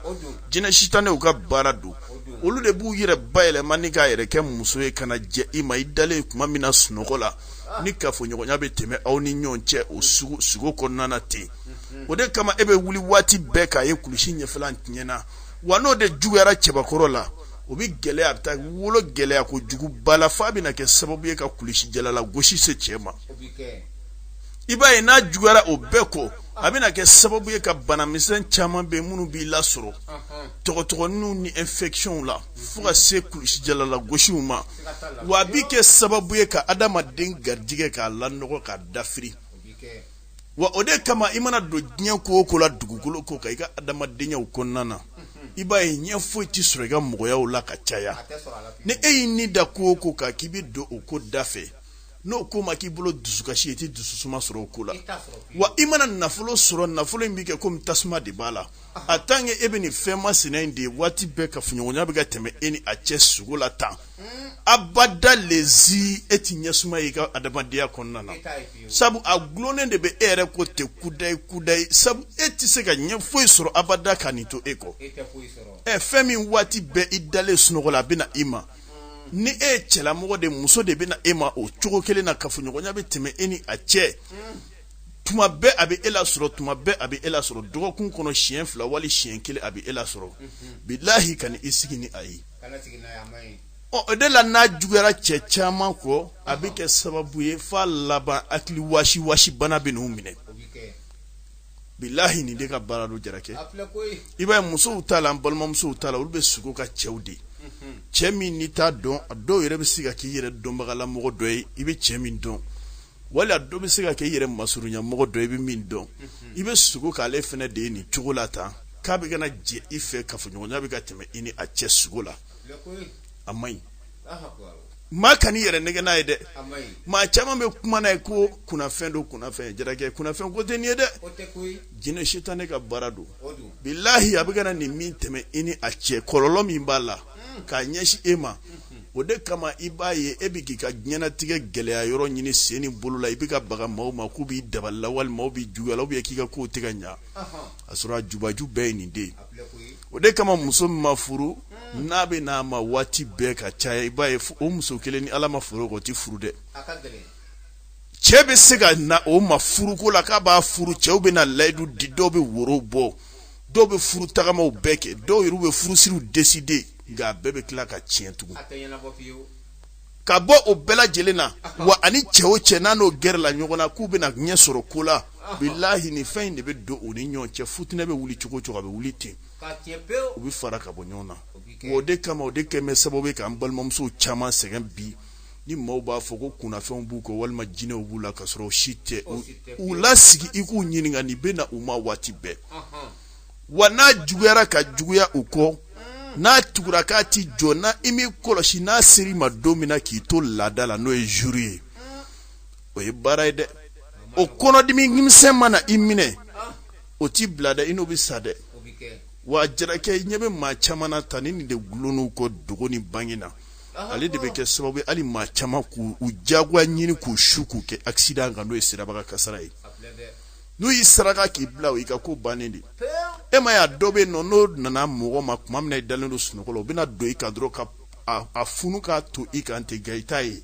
jinɛ sitanɛw ka baara don olu de b'u yɛrɛ bayɛlɛma ni k'a yɛrɛ kɛ muso ye ka na jɛ i ma i dalen kuma min na sunɔgɔ la ni kafoɲɔgɔnya bɛ tɛmɛ aw ni ɲɔgɔn cɛ o sugo kɔnɔna ten o de kama e bɛ wuli waati bɛɛ k'a ye kulusi ɲɛfɛla tiɲɛna wa n'o de juguyara cɛbakɔrɔ la o bɛ gɛlɛya a bɛ taa wolo gɛlɛya kojuguba la f'a bɛna kɛ sababu ye ka kulusijala lagosi se cɛ ma i b'a ye n'a juguyara o bɛɛ kɔ a bɛna kɛ sababu ye ka banamisɛn caman bɛ minnu b'i lasɔrɔ tɔgɔtɔgɔnin ni infectionw la fo ka se kulusijala lagosiw ma wa a bɛ kɛ sababu ye ka adamaden garijɛgɛ k'a lanɔgɔ k'a dafiri wa o de kama i mana don diɲɛ ko o ko la dugukolo ko kan i ka adamadenyaw kɔnɔna na i b'a ye ɲɛ foyi tɛ sɔrɔ i ka mɔgɔyaw la ka caya ni e y'i ni da ko o ko kan k'i bɛ don o ko da fɛ n'o ko ma k'i bolo dusukasi i tɛ dususuma sɔrɔ o ko la wa i mana nafolo sɔrɔ nafolo in bɛ kɛ komi tasuma de b'a la en tant que e bɛ nin fɛn masina in de ye waati bɛɛ kafoɲɔgɔnya bɛ ka tɛmɛ e ni a cɛ sugo la tan abada lezi e tɛ ɲɛsuma ye i ka adamadenya kɔnɔna na sabu a gulonnen de bɛ e yɛrɛ kɔ ten kudayi kudayi sabu e tɛ se ka ɲɛ foyi sɔrɔ abada ka nin to e kɔ ɛ fɛn min waati bɛɛ i dalen sunɔgɔ la a bɛ na i ma ni e ye cɛlamɔgɔ de muso de bɛ na e ma o cogo kelen na kafoɲɔgɔnya bɛ tɛmɛ e ni a cɛ tuma bɛɛ a bɛ e lasɔrɔ tuma bɛɛ a bɛ e lasɔrɔ dɔgɔkun kɔnɔ siɲɛ fila wali siɲɛ kelen a bɛ e lasɔrɔ bilahi kana i sigi ni a ye ɔ o de la n'a juguyara cɛ caman kɔ a bɛ kɛ sababu ye f'a laban hakili wasi wasi bana bɛ n'u minɛ bilahi nin de ka baara don jarakɛ i b'a ye musow ta la balimamusow ta la olu bɛ sugo ka cɛw de cɛ min n'i t'a dɔn a dɔw yɛrɛ bɛ se ka k'i yɛrɛ dɔnbagalamɔgɔ dɔ ye i bɛ cɛ min dɔn wali a dɔ bɛ se ka kɛ i yɛrɛ masurunyamɔgɔ dɔ i bɛ min dɔn i bɛ sugo k'ale fana de ye nin cogo la tan k'a bɛ ka na jɛ i fɛ kafoɲɔgɔnya bɛ ka tɛmɛ i ni a cɛ sugo la a man ɲi maa kan'i yɛrɛ nɛgɛn n'a ye dɛ maa caman bɛ kuma n'a ye ko kunnafɛn don kunnafɛn jarakɛ kunnafɛn ko tɛ nin ye dɛ jinɛ sitanɛ ka baara don bilahi a bɛ ka na nin min tɛmɛ i ni a cɛ kɔlɔlɔ min b'a la k'a ɲɛsin e ma o de kama i b'a ye e bɛ k'i ka diɲɛnatigɛ gɛlɛya yɔrɔ ɲini sen ni bolo la i bɛ ka baga maaw ma k'u b'i dabali la wali maaw b'i juguya la ou bien k'i ka kow tɛ ka ɲɛ a sɔrɔ a jubaju bɛɛ ye nin de o de kama muso min ma furu n'a bɛ n'a ma waati bɛɛ ka caya i b'a ye o muso kelen ni ala ma furu o tɛ furu dɛ cɛ bɛ se ka na o ma furuko la k'a b'a furu cɛw bɛ na layidu di dɔw bɛ woro bɔ dɔw bɛ furu tagamaw bɛɛ kɛ dɔw yɛrɛ bɛ furusiriw décider nka a bɛɛ bɛ tila ka tiɲɛ tugun ka bɔ o bɛɛ lajɛlen na wa ani cɛ o cɛ n'a n'o gɛrɛla ɲɔgɔn na k'u bɛna ɲɛ sɔrɔ ko la bilahi nin fɛn in de bɛ don u ni ɲɔgɔn cɛ futinɛ bɛ wuli cogo o cogo a bɛ wuli ten u bɛ fara ka bɔ ɲɔgɔn na o de kama o de kɛlen bɛ sababu ye k'an balimamusow caman sɛgɛn bi ni maaw b'a fɔ ko kunnafɛnw b'u kɔ walima jinɛw b'u la ka sɔrɔ o si tɛ u lasigi i k'u ɲininka nin bɛ na u ma waati bɛɛ wa n'a juguyara ka juguya u kɔ n'a tugura k'a tɛ jɔ n'i m'i kɔlɔsi n'a ser'i ma don min na k'i to laada la n'o ye zuru ye o ye baara ye dɛ o kɔnɔdimi misɛn mana i minɛ o t'i bila dɛ i n'o bɛ sa dɛ wa jarakɛ i ɲɛ bɛ maa caman na tan ni nin de gulon'u kɔ dogo ni bange na ale de bɛ kɛ sababu ye hali maa caman k'u jagoya ɲini k'u su k'u kɛ akisidan kan n'o ye siraba kan kasara ye n'u y'i saraka k'i bila o y'i ka ko bannen de e ma y'a dɔ bɛ nɔ n'o nana mɔgɔ ma tuma min na i dalen don sunɔgɔ la o bɛna don i kan dɔrɔn ka a funu k'a to i kan ten nka i t'a ye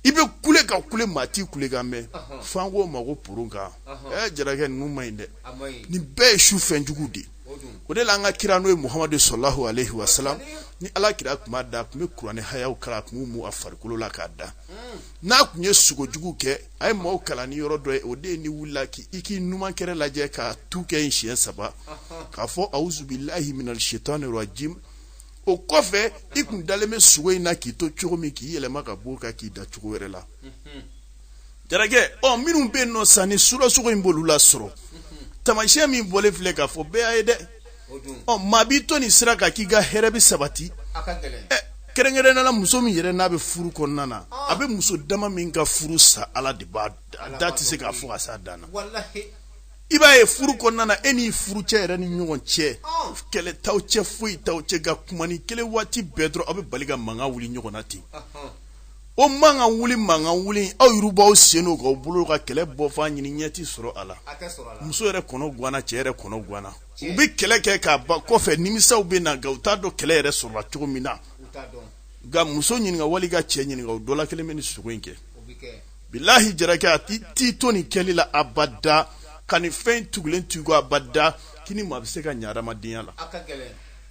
i bɛ kule ka kule maa t'i kule kan mɛn f'an k'o ma ko purun kan ɛ jarakɛ ninnu ma ɲi dɛ nin bɛɛ ye sufɛn jugu de o de la an ka kira n'o ye muhamadu salalahu alehi wasalamu ni ala kira tun b'a da a tun bɛ kuranɛ hayaw kalan a tun b'u mu a farikolo la k'a da n'a tun ye sugo jugu kɛ a ye maaw kalan ni yɔrɔ dɔ ye o de ye n'i wulila k'i k'i numan kɛrɛ lajɛ ka tu kɛ yen siɲɛ saba k'a fɔ awuzu bilahi mina sayitani rajimi o kɔfɛ i tun dalen bɛ sugo in na k'i to cogo min k'i yɛlɛma ka bɔ o kan k'i da cogo wɛrɛ la jarakɛ ɔ minnu bɛ nɔ sa ni su la sugo in b'olu lasɔrɔ tamasiyɛn min bɔlen filɛ k'a fɔ bɛɛ y'a ye dɛ ɔ maa b'i to nin sira kan k'i ka hɛrɛ bɛ sabati kɛrɛnkɛrɛnnenya la muso min yɛrɛ n'a bɛ furu kɔnɔna na a bɛ muso dama min ka furu sa ala de b'a dɔn a tɛ se ka fɔ ka s'a dan na i b'a ye furu kɔnɔna na e n'i furucɛ yɛrɛ ni ɲɔgɔn cɛ kɛlɛ t'aw cɛ foyi t'aw cɛ nka kumanin kelen waati bɛɛ dɔrɔn aw bɛ bali ka mankan wuli ɲɔgɔn na ten o mankan wuli mankan wuli aw yɛrɛ b'aw sen k'aw bolo ka kɛlɛ bɔfan ɲini ɲɛ ti sɔrɔ a la muso yɛrɛ kɔnɔ ganna cɛ yɛrɛ kɔnɔ ganna u bɛ kɛlɛ kɛ ka ban kɔfɛ nimisaw bɛ na nka u t'a dɔn kɛlɛ yɛrɛ sɔrɔla cogo min na nka muso ɲininka wali ka cɛ ɲininka o dɔ la kelen bɛ nin sugo in kɛ bilahi jarakɛ a t'i to nin kɛli la abada ka nin fɛn tugulen to i kɔ abada k'i ni maa bɛ se ka ɲɛ adamadenya la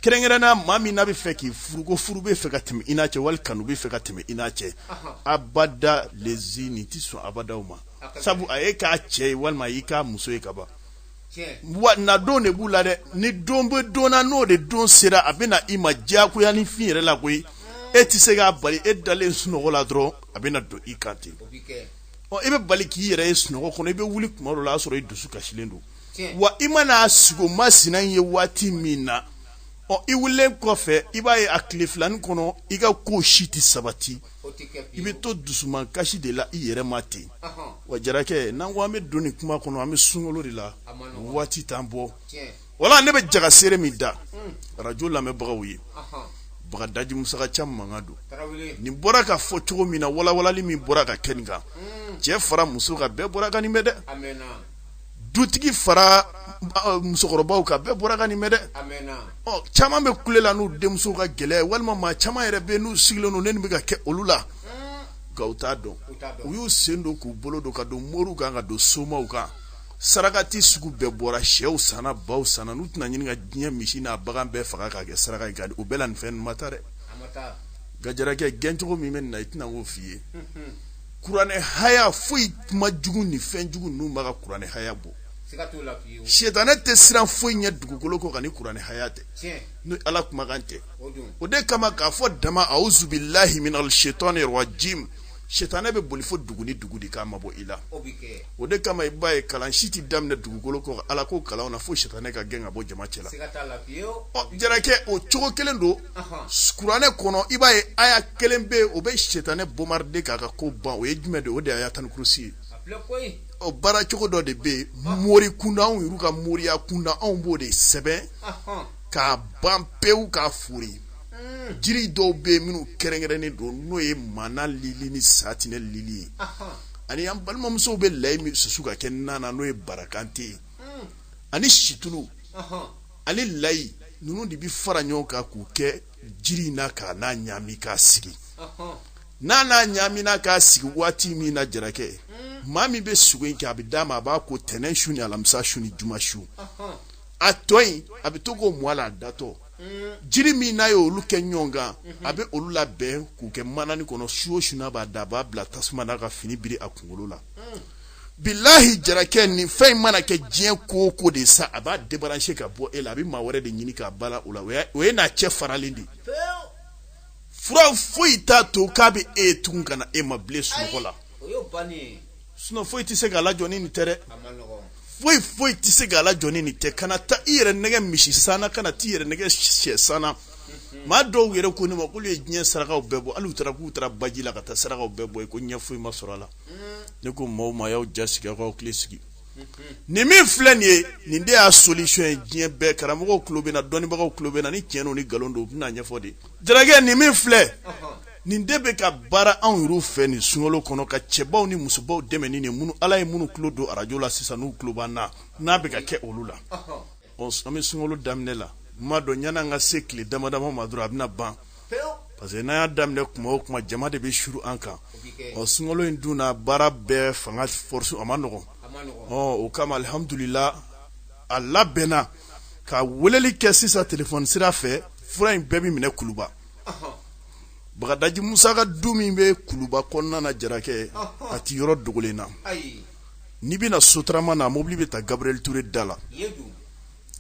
kɛrɛnkɛrɛnnenya maa min n'a bɛ fɛ k'i furu ko furu bɛ fɛ ka tɛmɛ i n'a cɛ wali kanu bɛ fɛ ka tɛmɛ i n'a cɛ abada lezi nin tɛ sɔn abada aw ma sabu a y'i k'a cɛ ye walima a y'i k'a muso ye ka ban wa na don de b'u la dɛ ni don bɛ don na n'o de don sera a bɛ na i ma diyagoya ni fin yɛrɛ la koyi e tɛ se k'a bali e dalen sunɔgɔ la dɔrɔn a bɛ na don i kan ten ɔ i bɛ bali k'i yɛrɛ ye sunɔgɔ kɔnɔ i bɛ wuli tuma dɔ la o y'a sɔrɔ i dusu kasilen don wa i mana sugo masina ye waati min na ɔ i wulilen kɔfɛ i b'a ye a tile filanin kɔnɔ i ka ko si tɛ sabati i bɛ to dusukasi de la i yɛrɛ ma ten wa jarakɛ n'an ko an bɛ don nin kuma kɔnɔ an bɛ sunkalo de la waati t'an bolo wala ne bɛ jagasere min da arajo lamɛnbagaw ye bagadaji musaka caman mankan don nin bɔra ka fɔ cogo min na walawalali min bɔra ka kɛ nin kan cɛ fara muso kan bɛɛ bɔra ka nin bɛ dɛ dutigi fara musokɔrɔbaw kan bɛɛ bɔra ka nin mɛn dɛ caman bɛ kule la n'u denmusow ka gɛlɛya walima maa caman yɛrɛ bɛ n'u sigilen don nin bɛ ka kɛ olu la nka u t'a dɔn u y'u sen don k'u bolo don ka don moriw kan ka don somaw kan sarakati sugu bɛɛ bɔra shɛw sanna baw sanna n'u tɛna ɲini ka diɲɛ misi n'a bagan bɛɛ faga k'a kɛ saraka ye o bɛɛ la nin fɛn ma taa dɛ nka jarakɛ gɛncogo min bɛ nin na i tɛna k'o f'i ye kuranɛ haya foyi kuma jugu ni fɛn jugu ninnu b'a ka kuranɛ haya bɔ sitanɛ tɛ siran foyi ɲɛ dugukolo kɔ kan ni kuranɛ haya tɛ ni ala kumakan tɛ o de kama k'a fɔ dama auzubilahi minal shaitani rajim sitanɛ bɛ boli fo dugu ni dugu de k'a mabɔ i la o de kama i b'a ye kalan si tɛ daminɛ dugukolo kɔ ala ko kalanw na fo sitanɛ ka gɛn ka bɔ jama cɛ la ɔ jarakɛ o cogo kelen don kuranɛ kɔnɔ i b'a ye aya kelen bɛ yen o bɛ sitanɛ bombarder k'a ka ko ban o ye jumɛn de ye o de ye ayatul kursi ye o baara cogo dɔ de bɛ yen mori kunda anw yɛrɛ ka moriya kunda anw b'o de sɛbɛn k'a ban pewu k'a fori jiri dɔw bɛ yen minnu kɛrɛnkɛrɛnnen don n'o ye mana lili ni satinɛ lili ye ani an balimamusow bɛ layi min susu ka kɛ nan na n'o ye barakante ye ani situlu ani layi ninnu de bɛ fara ɲɔgɔn kan k'u kɛ jiri in na ka n'a ɲami k'a sigi n'a n'a ɲamina k'a sigi waati min na jarakɛ maa min bɛ sugo in kɛ a bɛ d'a ma a b'a ko tɛnɛn su ni alamisa su ni juma su a tɔ in a bɛ to k'o mu a la a datɔ jiri min n'a ye olu kɛ ɲɔgɔn kan a bɛ olu labɛn k'u kɛ manani kɔnɔ su o su n'a b'a da a b'a bila tasuma na ka fini biri a kunkolo la bilahi jarakɛ nin fɛn in mana kɛ diɲɛ ko o ko de sa a b'a débarrasser ka bɔ e la a bɛ maa wɛrɛ de ɲini k'a bala o la o ye n'a cɛ faralen de ye fura foyi t'a to k'a bɛ se tugun ka na e ma bilen sunɔgɔ la sinon foyi tɛ se k'a lajɔ ni nin tɛ dɛ foyi foyi tɛ se k'a lajɔ ni nin tɛ kana taa i yɛrɛ nɛgɛn misi sanna kana t'i yɛrɛ nɛgɛn sɛ sanna maa dɔw yɛrɛ ko ne ma k'olu ye diɲɛ sarakaw bɛɛ bɔ hali u taara k'u taara baji la ka taa sarakaw bɛɛ bɔ i ko ɲɛ foyi ma sɔrɔ a la ne ko maaw ma y'aw ja sigi aw k'aw hakili sigi nin min filɛ nin ye nin de y'a solution ye diɲɛ bɛɛ karamɔgɔw tulo bɛ n na dɔnnibagaw tulo bɛ n na ni tiɲɛ don ni nkalon don u bɛn'a ɲɛfɔ dɛ jarakɛ nin min filɛ nin de bɛ ka baara anw yɛrɛw fɛ nin sunkalo kɔnɔ ka cɛbaw ni musobaw dɛmɛ ni nin minnu ala ye minnu tulo don arajo la sisan n'u tulo b'an na n'a bɛ ka kɛ olu la an bɛ sunkalo daminɛ la n m'a dɔn yanni an ka se tile dama dama ma dɔrɔn a bɛna ban parce que n'an y'a daminɛ kuma o kuma jama de bɛ suuru an kan ɔ sunkalo in dun na baara bɛɛ fanga force a man nɔgɔn ɔ o kama alihamudulila a labɛnna ka weleli kɛ sisan telefɔni sira fɛ fura in bɛɛ bɛ minɛ kuluba bagadaji musa ka du min bɛ kuluba kɔnɔna na jarakɛ a ti yɔrɔ dogolen na n'i bɛna sotarama na mobili bɛ ta gabriel touré da la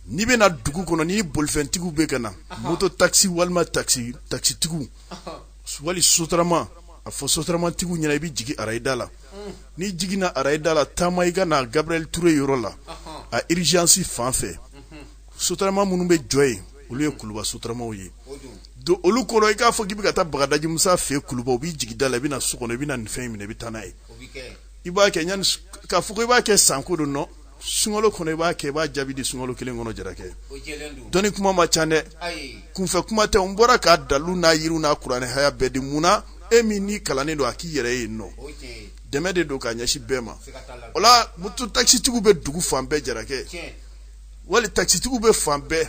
n'i bɛna dugu kɔnɔ ni bolifɛntigiw bɛ ka na moto takisi walima takisitigiw wali sotarama a fɔ sotaramatigiw ɲɛna i bɛ jigin arayida la n'i jiginna arayida la taama i ka na gabriel touré yɔrɔ la a urgence fan fɛ sotarama minnu bɛ jɔ yen olu ye kuluba sotaramaw ye don olu kɔnɔ i k'a fɔ k'i bɛ ka taa bagadaji musa fɛ kuluba u b'i jigin da la i bɛna na so kɔnɔ i bɛ na nin fɛn minɛ i bɛ taa n'a ye i b'a kɛ yani k'a fɔ ko i b'a kɛ sanko don nɔ sunkalo kɔnɔ i b'a kɛ i b'a jaabi di sunkalo kelen kɔnɔ jarakɛ dɔnni kuma man ca dɛ kunfɛ kuma tɛ n bɔra k'a dalu n'a yiriw n'a kuranɛ aya bɛɛ di mun na e min n'i kalannen don a k'i yɛrɛ ye nɔ dɛmɛ de don k'a ɲɛsin bɛɛ ma o la moto takisitigiw bɛ dugu fan bɛɛ jarakɛ wali takisitigiw bɛ fan bɛɛ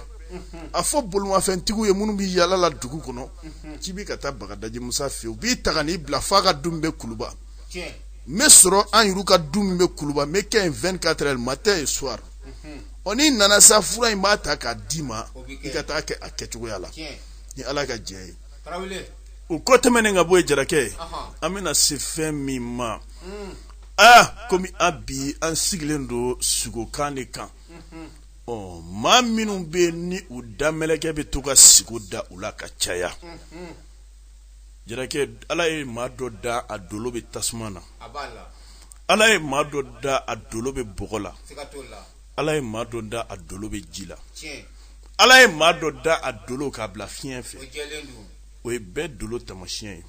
a fɔ bolimafɛntigiw ye minnu bɛ yaala la dugu kɔnɔ k'i bɛ ka taa bagadaji musa fɛ u b'i ta ka n'i bila f'a ka du min bɛ kuluba n bɛ sɔrɔ an yɛrɛw ka du min bɛ kuluba n bɛ kɛ yen vingt-quatre heures matin et soir ɔ n'i nana sa fura in b'a ta k'a d'i ma i ka taa kɛ a kɛcogoya la ni ala ka jɛ ye o kɔ tɛmɛnen ka bɔ yen jarakɛ an bɛna se fɛn min ma mm. aa ah, komi an bi an sigilen don sugokan de kan mm-hmm. ɔ maa minnu bɛ ni u damɛlɛkɛ bɛ to ka sigo da u la ka caya mm-hmm. jarakɛ ala ye maa dɔ da a dolo bɛ tasuma na ala ye maa dɔ da a dolo bɛ bɔgɔ la ala ye maa dɔ da a dolo bɛ ji la ala ye maa dɔ da a dolo k'a bila fiɲɛ fɛ o ye bɛɛ dolo tamasiɲɛ ye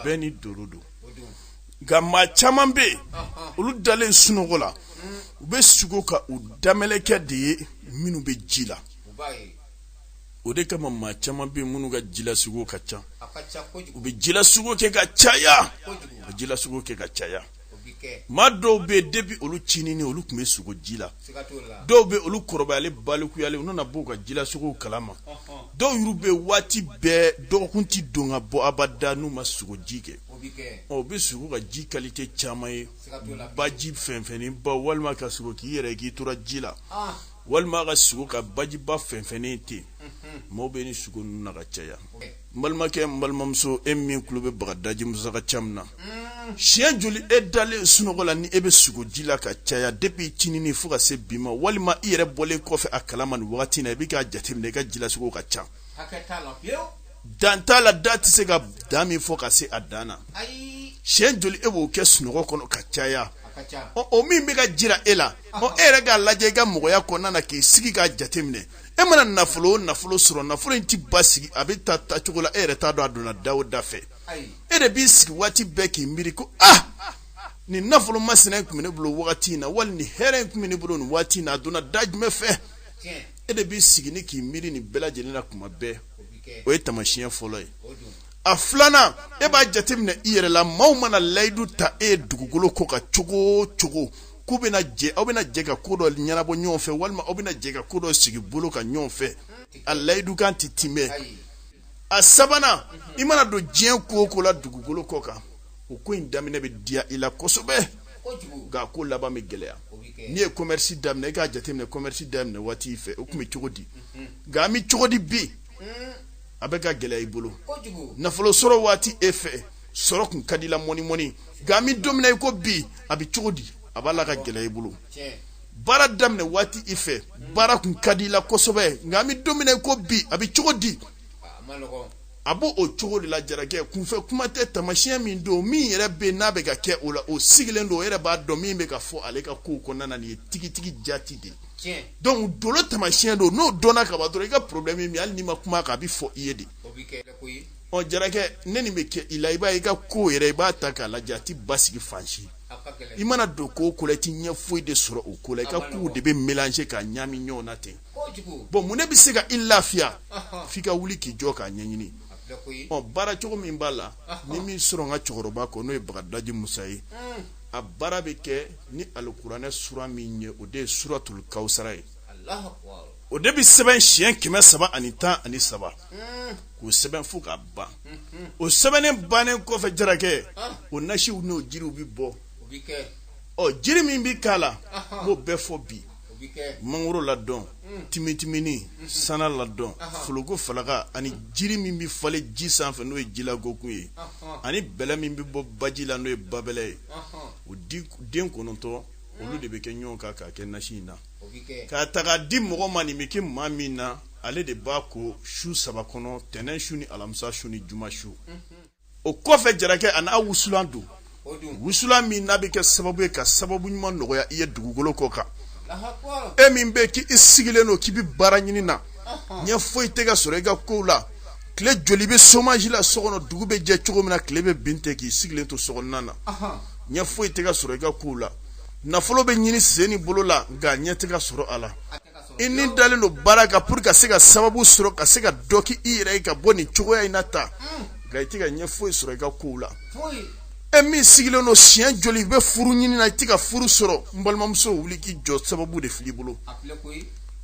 bɛɛ n'i dolo don nka maa caman bɛ yen olu dalen sunɔgɔ la u bɛ sugo ka u damɛlɛkɛ de ye minnu bɛ ji la o de kama maa caman bɛ minnu ka jilasugo ka ca u bɛ jilasugo kɛ ka caya ka jilasugo kɛ ka caya maa dɔw bɛ yen depi olu cinini olu tun bɛ sugo ji la dɔw bɛ olu kɔrɔbayalen balikuyalen u nana bɔ u ka jilasugo kalama dɔw yɛrɛ bɛ waati bɛɛ dɔgɔkun tɛ don ka bɔ abada n'u ma sugo ji kɛ u bɛ sugo ka ji kalite caman ye baji fɛnfɛnnenba walima ka sugo k'i yɛrɛ k'i tora ji la walima ka sugo ka bajiba fɛnfɛnnen ten maaw bɛ ni sugo ninnu na ka caya n balimakɛ n balimamuso e min tulo bɛ bagadaji musa ka ca min na siɲɛ joli e dalen sunɔgɔ la ni e bɛ sugo ji la ka caya depi cinini fo ka se bi ma walima i yɛrɛ bɔlen kɔfɛ a kalama nin wagati na i bɛ k'a jateminɛ i ka jilasugo ka ca dan t'a la da tɛ se ka dan min fɔ ka se a dan na siɲɛ joli e b'o kɛ sunɔgɔ kɔnɔ ka caya o min bɛ ka jira e la ɔ e yɛrɛ k'a lajɛ i ka mɔgɔya kɔnɔna na k'i sigi k'a jateminɛ e mana nafolo o nafolo sɔrɔ nafolo in tɛ basigi a bɛ taa taa cogo la e yɛrɛ t'a dɔn a donna da o da fɛ e de b'i sigi waati bɛɛ k'i miiri ko ah nin nafolo masina in tun bɛ ne bolo wagati in na wali nin hɛrɛ in tun bɛ ne bolo nin waati in na a donna da jumɛn fɛ e de b'i sigi ni k'i miiri nin bɛɛ lajɛlen na tuma bɛɛ o ye taamasiyɛn fɔlɔ ye a filanan e b'a jateminɛ i yɛrɛ la maaw mana layidu ta e ye dugukolo kɔ kan cogo o cogo k'u bɛna jɛ aw bɛna jɛ ka ko dɔ ɲɛnabɔ ɲɔgɔn fɛ walima aw bɛna jɛ ka ko dɔ sigi bolo kan ɲɔgɔn fɛ a layidukan tɛ tiimɛ a sabanan i mana don diɲɛ ko o ko la dugukolo kɔ kan o ko in daminɛ bɛ diya i la kosɛbɛ nka a ko laban bɛ gɛlɛya n'i ye commerce daminɛ i k'a jateminɛ commerce daminɛ waati i fɛ o tun bɛ cogo di mhm. nka an bɛ cogo di bi mm. a bɛ ka gɛlɛya i bolo nafolo sɔrɔ waati e fɛ sɔrɔ tun ka di i la mɔni mɔni nka an bɛ don min na i ko bi a bɛ cogo di a b'a la ka gɛlɛya i bolo baara daminɛ waati i fɛ mm. baara tun ka di i la kosɛbɛ nka an bɛ don min na i ko bi a bɛ cogo di a b'o o cogo de la jarakɛ kunfɛ kuma tɛ taamasiɲɛ min don min yɛrɛ bɛ n'a bɛ ka kɛ o la o sigilen don o yɛrɛ b'a dɔn min bɛ ka fɔ ale ka kow kɔnɔna na nin ye tigitigi jati de ye donc dolo taamasiɲɛ don n'o dɔnna ka ban dɔrɔn i ka problème ye min hali n'i ma kuma kan a bɛ fɔ i ye de ɔ jarakɛ ne nin bɛ kɛ i la i b'a ye i ka ko yɛrɛ i b'a ta k'a lajɛ a tɛ basigi fan si i mana don ko o ko la i tɛ ɲɛ foyi de sɔrɔ o ko la i ka kow de bɛ mélanger ka ɲami ɲɔgɔn na ten bɔn mun de bɛ se ka i lafiya f'i ka wuli k'i jɔ k'a ɲɛɲini ɔ baara cogo min b'a la n ye min sɔrɔ n ka cɛkɔrɔba kɔ n'o ye bagadaji musa ye hmm. a baara bɛ kɛ ni alikuranɛ sura min ye o de ye suratul kawusara ye o de bɛ sɛbɛn siɲɛ kɛmɛ saba ani tan ani saba hmm. k'o sɛbɛn fo k'a ban hmm, o sɛbɛnnen bannen kɔfɛ jarakɛ ah. o nasiw n'o jiriw bɛ bɔ ɔ jiri min bɛ k'a la n b'o bɛɛ fɔ bi mangoro ladɔn mm. timitimini mm-hmm. sana ladɔn foloko falaka ani mm. jiri min bɛ falen ji sanfɛ n'o ye jilagokun ye ani bɛlɛ min bɛ bɔ baji la n'o ye babɛlɛ ye o den kɔnɔntɔn mm. olu de bɛ kɛ ɲɔgɔn kan k'a kɛ nasi in na k'a ta k'a di mɔgɔ ma nin bɛ kɛ maa min na ale de b'a ko su saba kɔnɔ tɛnɛn su ni alamisa su ni juma su mm-hmm. o kɔfɛ jarakɛ a n'a wusulan don wusulan min n'a bɛ kɛ sababu ye ka sababu ɲuman nɔgɔya i ye dugukolo kɔ kan e min bɛ k'i sigilen don k'i bɛ baara ɲini na ɲɛ foyi tɛ ka sɔrɔ i ka kow la tile joli bɛ chômage la so kɔnɔ dugu bɛ jɛ cogo min na tile bɛ bin ten k'i sigilen to sokɔnɔna na ɲɛ foyi tɛ ka sɔrɔ i ka kow la nafolo bɛ ɲini sen ni bolo la nka ɲɛ tɛ ka sɔrɔ a la i ni dalen don baara kan pour ka se ka sababu sɔrɔ ka se ka dɔ k' i yɛrɛ ye ka bɔ nin cogoya in na ta mm. nka i tɛ ka ɲɛ foyi sɔrɔ i ka kow la e min sigilen don siɲɛ joli i bɛ furu ɲini na i tɛ ka furu sɔrɔ n balimamuso wuli k'i jɔ sababu de fil'i bolo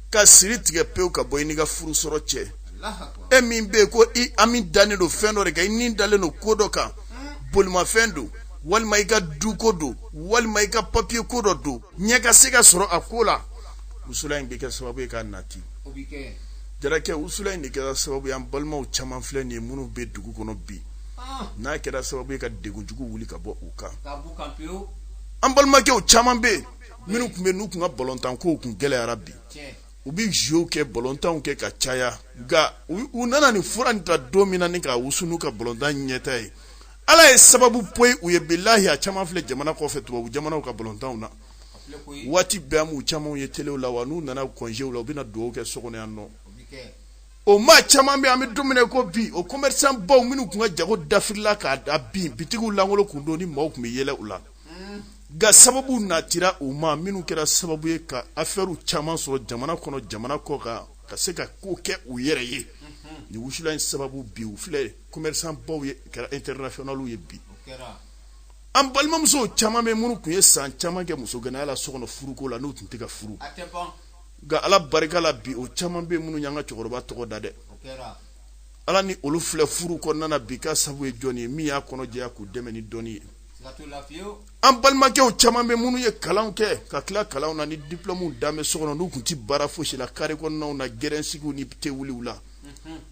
ka siri tigɛ pewu ka bɔ i n'i ka furu sɔrɔ cɛ e min bɛ yen ko i hami dannen don fɛn dɔ de kan i ni dalen don ko dɔ kan mm. bolimafɛn don walima i ka duko don walima i ka papiye ko dɔ don ɲɛ ka se ka sɔrɔ a ko la wusula in bɛ kɛ sababu ye k'a nati jarakɛ wusula in de kɛra sababu ye an balimaw caman filɛ nin ye minnu bɛ dugu kɔnɔ bi ah. n'a kɛra sababu ye ka degun jugu wuli ka bɔ u kan an balimakɛw caman bɛ yen minnu tun bɛ n'u tun ka balontan kow tun gɛlɛyara bi u bɛ jeux kɛ balontanw kɛ ka caya nka u nana nin fura in ta don min na ni k'a wusu n'u ka balontan ɲɛta ye ala ye sababu poyi u ye bilahi a caman filɛ jamana kɔfɛ tubabu jamanaw ka balontanw na waati bɛɛ n b'u camanw ye telew la wa n'u nana congéw la u bɛna dugawu kɛ so kɔnɔ yan nɔ o maa caman bɛ an bɛ don min na ko bi o commerçant baw minnu tun ka jago dafirila ka bin bitigiw lankolon kun don ni maaw tun bɛ yɛlɛ u la nka sababu natira u ma minnu kɛra sababu ye ka affaires caman sɔrɔ jamana kɔnɔ jamana kɔ kan ka se ka ko kɛ u yɛrɛ ye nin wusula in sababu bi u filɛ commerçant baw ye kɛra internationaux ye bi an balimamuso caman bɛ minnu tun ye san caman kɛ muso gɛnɛya la so kɔnɔ furuko la n'u tun tɛ ka furu nka ala barika la bi o caman bɛ minnu y'an ka cɛkɔrɔba tɔgɔ da den la ni olu filɛ furu kɔnɔna na bi ka sabu ye jɔn ye min y'a kɔnɔ jɛya k'u dɛmɛ ni dɔnni ye an balimakɛw caman bɛ minnu ye kalan kɛ ka tila kalan na ni diplɔmuw dan bɛ so kɔnɔ n'u tun tɛ baara fosi la kare kɔnɔnaw na gɛrɛnsigiw ni tewuliw la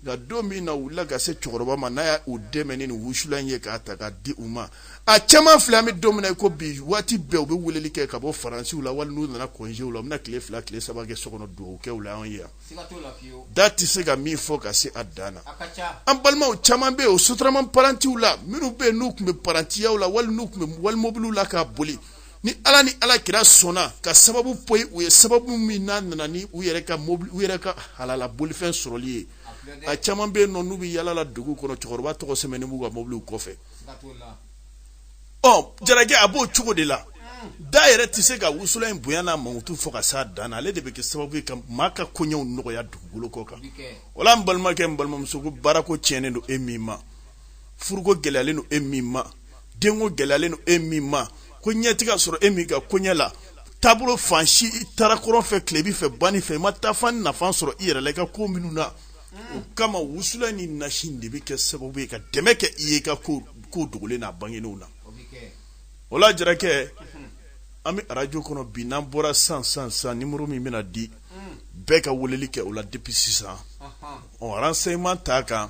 nka don min na u wulila ka se cɛkɔrɔba ma n'a y'u dɛmɛ ni wusula ye k'a ta k'a di u ma a caman filɛ an bɛ don min ko bi waati bɛɛ u bɛ weleli kɛ ka bɔ faransiw la wali n'u nana congéw la u bɛna tile fila tile saba kɛ so kɔnɔ dugawu kɛ u la anw ye yan da tɛ se ka min fɔ ka se a dan na an balimaw caman bɛ yen o sotarama parantiw la minnu bɛ yen n'u tun bɛ parantiyaw la wali n'u tun bɛ walimobiliw la k'a boli ni ala ni ala kira sɔnna ka sababu poyi u ye sababu min n'a nana ni u yɛrɛ ka mobili u yɛrɛ ka halala bolifɛn sɔrɔli ye a caman bɛ yen nɔ n'u bɛ yala la dugu kɔnɔ cɛkɔrɔba tɔgɔ sɛbɛnnen b'u ka mobiliw kɔfɛ ɔ jarakɛ a b'o cogo de la da yɛrɛ tɛ se ka wusula in bonya n'a mankutu fɔ ka s'a dan na ale de bɛ kɛ sababu ye ka maa ka koɲɛw nɔgɔya dugukolo kɔ kan o la n balimakɛ n balimamuso ko baarako tiɲɛnen don e min ma furuko gɛlɛyalen don e min ma denko gɛlɛyalen don e min ma ko ɲɛ tɛ ka sɔrɔ e min ka koɲɛ la taabolo fan si i taara kɔrɔn fɛ tilebi fɛ banni fɛ i ma taafan nafa sɔrɔ i yɛrɛ la i ka ko minnu na o kama wusula ni nasi de bɛ kɛ sababu ye ka dɛmɛ kɛ i ye i ka ko ko dogolen n'a bangenenw na o la jarakɛ an bɛ arajo kɔnɔ bi n'an bɔra san san san nimuru min bɛna di bɛɛ ka weleli kɛ o la depuis sisan ɔ renseignement t'a kan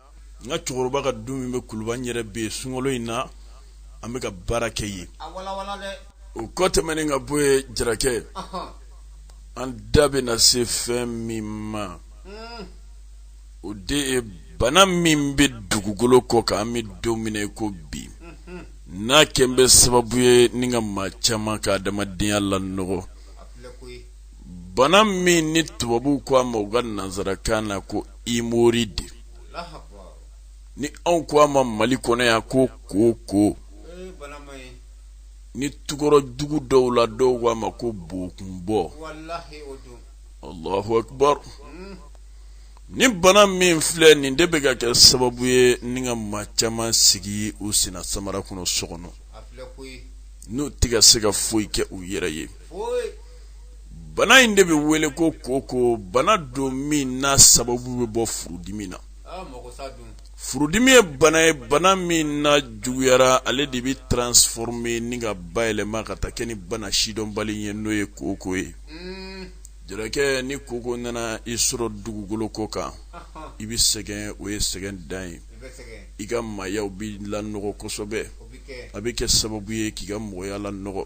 n ka cɛkɔrɔba ka du min bɛ kuluba n yɛrɛ bɛ yen sunkalo in na an bɛ ka baara kɛ yen o kɔ tɛmɛnen ka bɔ yen jarakɛ an da bɛna se fɛn min ma hmm. o de ye bana min bɛ dugukolo kɔ kan an bɛ don min na ko bi hmm. n'a kɛn bɛ sababu ye ni ka maa caman ka adamadenya lanɔgɔ bana min ni tubabuw ko a ma u ka nanzarakan na ko hémorroïde ni anw ko a ma mali kɔnɔ yan ko koko ni tukɔrɔ dugu dɔw la dɔw ko a ma ko bokunbɔ alahu akbar hmm. ni bana min filɛ nin de bɛ ka kɛ sababu ye ni ka maa caman sigi u sina samara kɔnɔ so kɔnɔ n'u tɛ ka se ka foyi kɛ u yɛrɛ ye bana in de bɛ wele ko koko bana don min n'a sababu bɛ bɔ furudimi na furudimi ye bana ye bana min n'a juguyara ale de bɛ transformer ni ka bayɛlɛma ka taa kɛ ni bana sidɔnbali ye n'o ye koko ye jarakɛ ni koko nana i sɔrɔ dugukolo kɔ kan i bɛ sɛgɛn o ye sɛgɛn dan ye i ka maayaw bɛ lanɔgɔ kosɛbɛ a bɛ kɛ sababu ye k'i ka mɔgɔya lanɔgɔ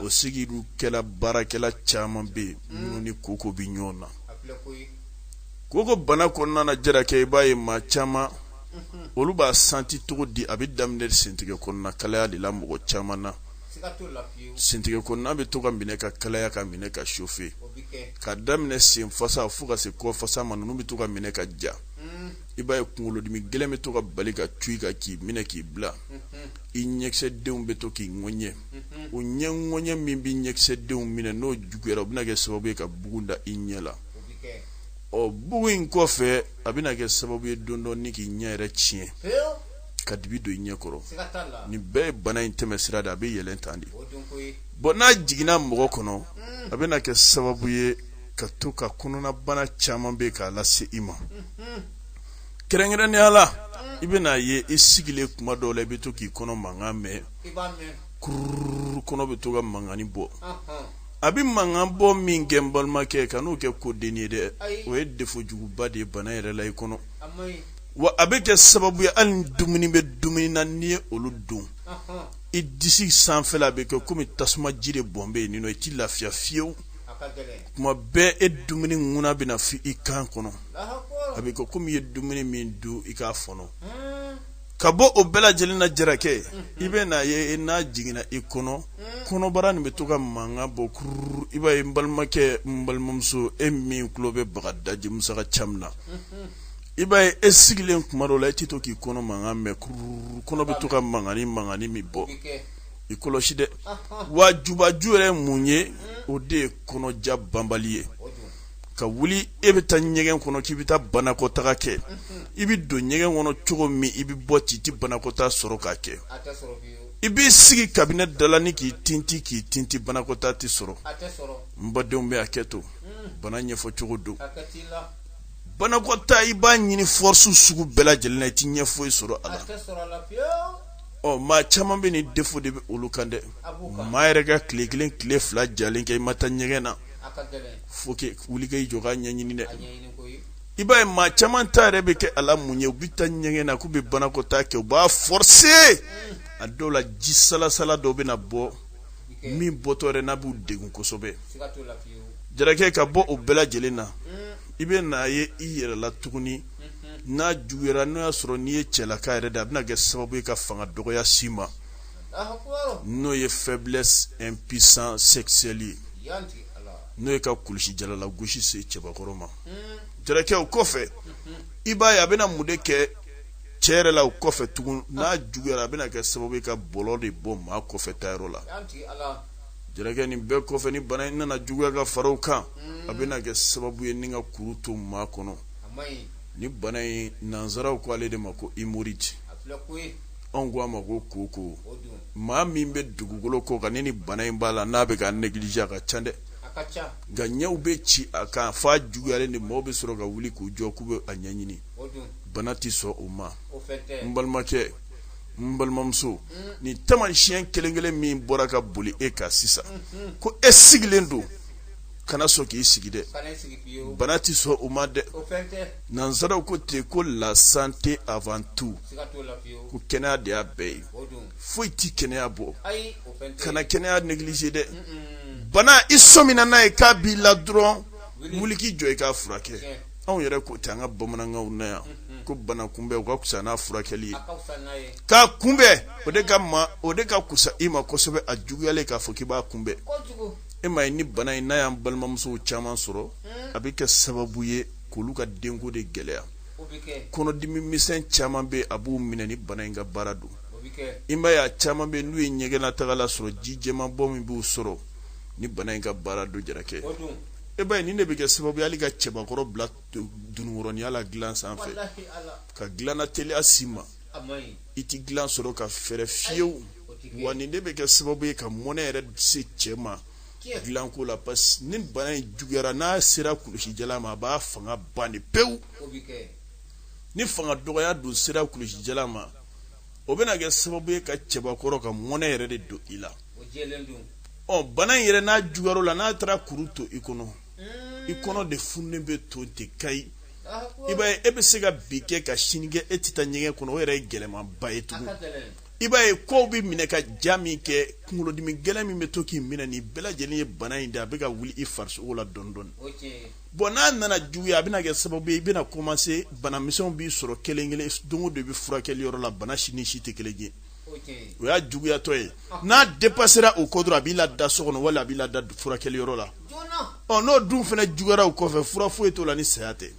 o sigili kɛla baarakɛla caman bɛ yen mm. minnu ni koko bɛ ɲɔgɔn na koko bana kɔnɔna na jarakɛ i b'a ye maa caman mm-hmm. olu b'a santi cogo di a bɛ daminɛ sentigɛ kɔnɔna kalaya de la mɔgɔ caman na sentigɛ kɔnɔna bɛ to ka minɛ ka kalaya ka minɛ ka chauffer ka daminɛ sen fasa fo ka se kɔ fasa ma ninnu bɛ to ka minɛ ka ja mm. i b'a ye kunkolodimi gɛlɛn bɛ to ka bali ka cun i kan k'i minɛ k'i bila mm-hmm. i ɲɛkisɛdenw bɛ to k'i ŋɔɲɛ o ɲɛ ŋɔɲɛ min bɛ ɲɛkisɛdenw minɛ n'o juguyara o bɛna kɛ sababu ye ka bugun da i ɲɛ la ɔ bugun in kɔfɛ a bɛna kɛ sababu ye don dɔ ni k'i ɲɛ yɛrɛ tiɲɛ ka dibi don i ɲɛ kɔrɔ nin bɛɛ ye bana in tɛmɛ sira de a bɛ yɛlɛn tan de bon n'a jiginna mɔgɔ kɔnɔ a bɛna kɛ sababu ye ka to ka kɔnɔnabana caman bɛ k'a lase i ma kɛrɛnkɛrɛnnenya la i bɛna a ye i sigilen kuma dɔw la i bɛ to k'i kɔnɔ mankan mɛn kururu kɔnɔ bɛ to ka mankannin bɔ a bɛ mankan bɔ min kɛ n balimakɛ kan'o kɛ ko dennin ye dɛ o ye defo juguba de ye bana yɛrɛ la i kɔnɔ wa a bɛ kɛ sababu ye hali dumuni bɛ dumuni na n'i ye olu dun i disi sanfɛla a bɛ kɛ kɔmi tasuma ji de bɔn bɛ yen nin i tɛ lafiya fiyewu kuma bɛɛ e dumuni ŋuna bɛna fi i kan kɔnɔ a bɛ kɛ komi i ye dumuni min dun i k'a fɔnɔ ka bɔ o bɛɛ lajɛlen na jarakɛ i bɛ n'a ye n'a jiginna i kɔnɔ kɔnɔbara nin bɛ to ka mankan bɔ kururu i b'a ye n balimakɛ n balimamuso e min tulo bɛ bagadaji musa ka caman na i b'a ye e sigilen kuma dɔ la e tɛ to k'i kɔnɔ mankan mɛn kururu kɔnɔ bɛ to ka mankan ni mankan min bɔ i kɔlɔsi dɛ wa jubaju yɛrɛ mun ye o de ye kɔnɔja banbali ye ka wuli e bɛ taa ɲɛgɛn kɔnɔ k'i bɛ taa banakɔtaa kɛ i bɛ don ɲɛgɛn kɔnɔ cogo min i bɛ bɔ ten i tɛ banakɔtaa sɔrɔ k'a kɛ i b'i sigi kabinɛ da la ni k'i tinti k'i tinti banakɔtaa tɛ sɔrɔ n badenw bɛ hakɛ to bana ɲɛfɔ cogo don banakɔtaa i b'a ɲini fɔsiw sugu bɛɛ lajɛlen na i tɛ ɲɛ foyi sɔrɔ a la ɔ maa caman bɛ nin defo de bɛ olu kan dɛ maa yɛrɛ ka tile kelen tile fila jalen kɛ i ma taa ɲɛgɛn na faut que wuli k'i jɔ k'a ɲɛɲini dɛ i b'a ye maa caman ta yɛrɛ bɛ kɛ a la mun ye u bɛ taa ɲɛgɛn na k'u bɛ banakɔtaa kɛ u b'a fɔse a dɔw la ji salasala dɔw bɛ na bɔ min bɔtɔ yɛrɛ n'a b'u degun kosɛbɛ jarakɛ ka bɔ o bɛɛ lajɛlen na i bɛna a ye i yɛrɛ la tuguni n'a juguyara n'o y'a sɔrɔ n'i ye cɛlaka yɛrɛ de a bɛna kɛ sababu ye ka fanga dɔgɔya si ma n'o ye faiblesse impuissance sexuelle ye n'o ye ka kulusi jalala gosi se cɛbakɔrɔ ma jarakɛ o kɔfɛ i b'a ye a bɛna mun de kɛ cɛ yɛrɛ la o kɔfɛ tugun n'a juguyara a bɛna kɛ sababu ye ka bɔlɔ de bɔ maa kɔfɛ taayɔrɔ la jarakɛ nin bɛɛ kɔfɛ ni bana in nana juguya ka fara o kan a bɛna kɛ sababu ye ni ka kuru to maa kɔnɔ ni bana in nansaraw ko ale de ma ko hémorroïde anw ko a ma ko koko maa min bɛ dugukolo kɔ kan ni bana in b'a la n'a bɛ ka négliger a ka ca dɛ nka ɲɛw bɛ ci a kan f'a juguyalen de maaw bɛ sɔrɔ ka wuli k'u jɔ k'u bɛ a ɲɛɲini bana tɛ sɔn o ma n balimakɛ n balimamuso mm. nin taamasiyɛn kelen kelen min bɔra ka boli e kan sisan mm-hmm. ko e sigilen don kana sɔn k'i sigi dɛ bana tɛ sɔn o ma dɛ nansaraw ko ten ko la santé avant tout ko kɛnɛya de y'a bɛɛ ye foyi tɛ kɛnɛya bɔ kana kɛnɛya négliger dɛ bana i sɔmina n'a ye k'a b'i la dɔrɔn wuli k'i jɔ i k'a furakɛ anw yɛrɛ ko ten an ka bamanankanw na yan ko bana kunbɛn o ka kusa n'a furakɛli ye k'a kunbɛn o de ka ma o de ka kusa i ma kosɛbɛ a juguyalen k'a fɔ k'i b'a kunbɛn e ma ye ni bana in n'a y'an balimamusow caman sɔrɔ hmm. a bɛ kɛ sababu ye k'olu ka denko de gɛlɛya kɔnɔdimi misɛn caman bɛ a b'u minɛ nin bana in ka baara don i ma ye a caman bɛ n'u ye ɲɛgɛnnatagala sɔrɔ ji jɛman bɔ min b'u sɔrɔ nin bana in ka baara don jarakɛ e b'a ye nin de bɛ kɛ sababu ye hali ka cɛbakɔrɔ bila dunukɔrɔniya la dilan sanfɛ ka dilanna teliya s'i ma i tɛ dilan sɔrɔ ka fɛrɛ fiyewu wa nin de bɛ kɛ sababu ye ka mɔnɛ yɛrɛ se cɛ ma dilanko la parce que ni bana in juguyara n'a sera kulusijala ma a b'a fanga ban de pewu ni fanga dɔgɔya dun sera kulusijala ma o bɛna kɛ sababu ye ka cɛbakɔrɔ ka mɔnɛ yɛrɛ de don i la ɔ bana in yɛrɛ n'a juguyar'i la n'a taara kuru to i kɔnɔ i kɔnɔ de fununen bɛ to ten kayi i b'a ye e bɛ se ka bi kɛ ka sini kɛ e tɛ taa ɲɛgɛn kɔnɔ o yɛrɛ ye gɛlɛmanba ye tugun i b'a ye kɔw bɛ minɛ ka ja min kɛ kunkolodimi gɛlɛn min bɛ to k'i minɛ nin bɛɛ lajɛlen ye bana in de a bɛ ka wuli i farisogo la dɔɔni dɔɔni bon n'a nana juguya a bɛna kɛ sababu ye i bɛna commencer banamisɛnw b'i sɔrɔ kelen kelen don o don i bɛ furakɛli yɔrɔ la bana si ni si tɛ kelen ye o y'a juguyatɔ ye n'a dépasséra o kɔ dɔrɔn a b'i lada so kɔnɔ wala a b'i lada furakɛli yɔrɔ la ɔ n'o dun fana juguyara o kɔfɛ fura foyi t'o la ni saya tɛ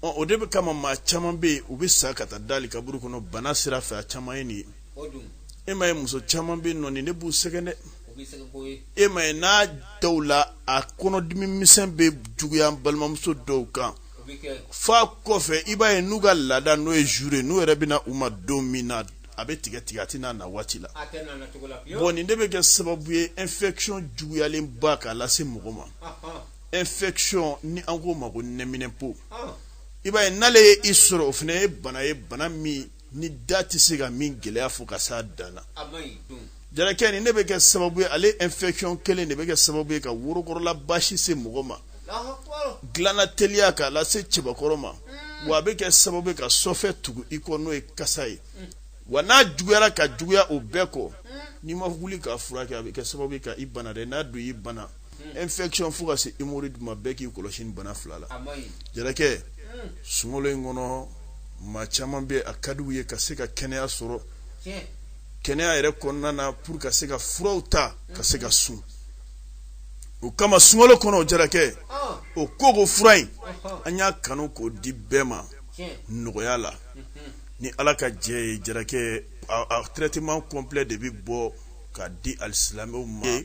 O de bɛ kama maa caman bɛ yen u bɛ sa ka taa da kaburu kɔnɔ bana sira fɛ a caman ye nin ye e ma ye muso caman bɛ yen nɔ nin ne b'u sɛgɛn dɛ e ma ye n'a dɔw la a kɔnɔdimi misɛn bɛ juguya balimamuso dɔw kan f'a kɔfɛ i b'a ye n'u ka laada n'o ye jour ye n'u yɛrɛ bɛ na u ma don min na a bɛ tigɛ tigɛ a tɛ n'a na waati la nin de bɛ kɛ sababu ye infection juguyalenba k'a lase mɔgɔ ma infection nin an k'o ma ko nɛminɛpo ah. i b'a ye n'ale ye i sɔrɔ o fana ye bana ye bana min i da tɛ se ka min gɛlɛya fɔ ka s'a dan na jarakɛ nin ne bɛ kɛ sababu ye ale infection kelen de bɛ kɛ sababu ye ka worokɔrɔla basi se mɔgɔ ma dilanna teliya k'a lase cɛbakɔrɔ ma hmm. wa a bɛ kɛ sababu ye ka sɔfɛ tugu i kɔ n'o ye kasa ye hmm. wa n'a juguyara ka juguya o bɛɛ kɔ hmm. n'i ma wuli k'a furakɛ a bɛ kɛ sababu ye ka i bana dɛ n'a dun i bana hmm. infection fo ka se hémorroïde ma bɛɛ k'i kɔlɔsi nin bana fila la jarakɛ hmm. sunkalo in kɔnɔ maa caman bɛ a ka d'u ye ka se ka kɛnɛya sɔrɔ kɛnɛya yɛrɛ kɔnɔna na pour ka se ka furaw ta ka se ka sun o kama sunkalo kɔnɔ o jarakɛ ah. o koko fura in an y'a kanu k'o di bɛɛ ma nɔgɔya la ni ala ka jɛ ye jarakɛ a traitement complet de bɛ bɔ ka di alisilamɛw ma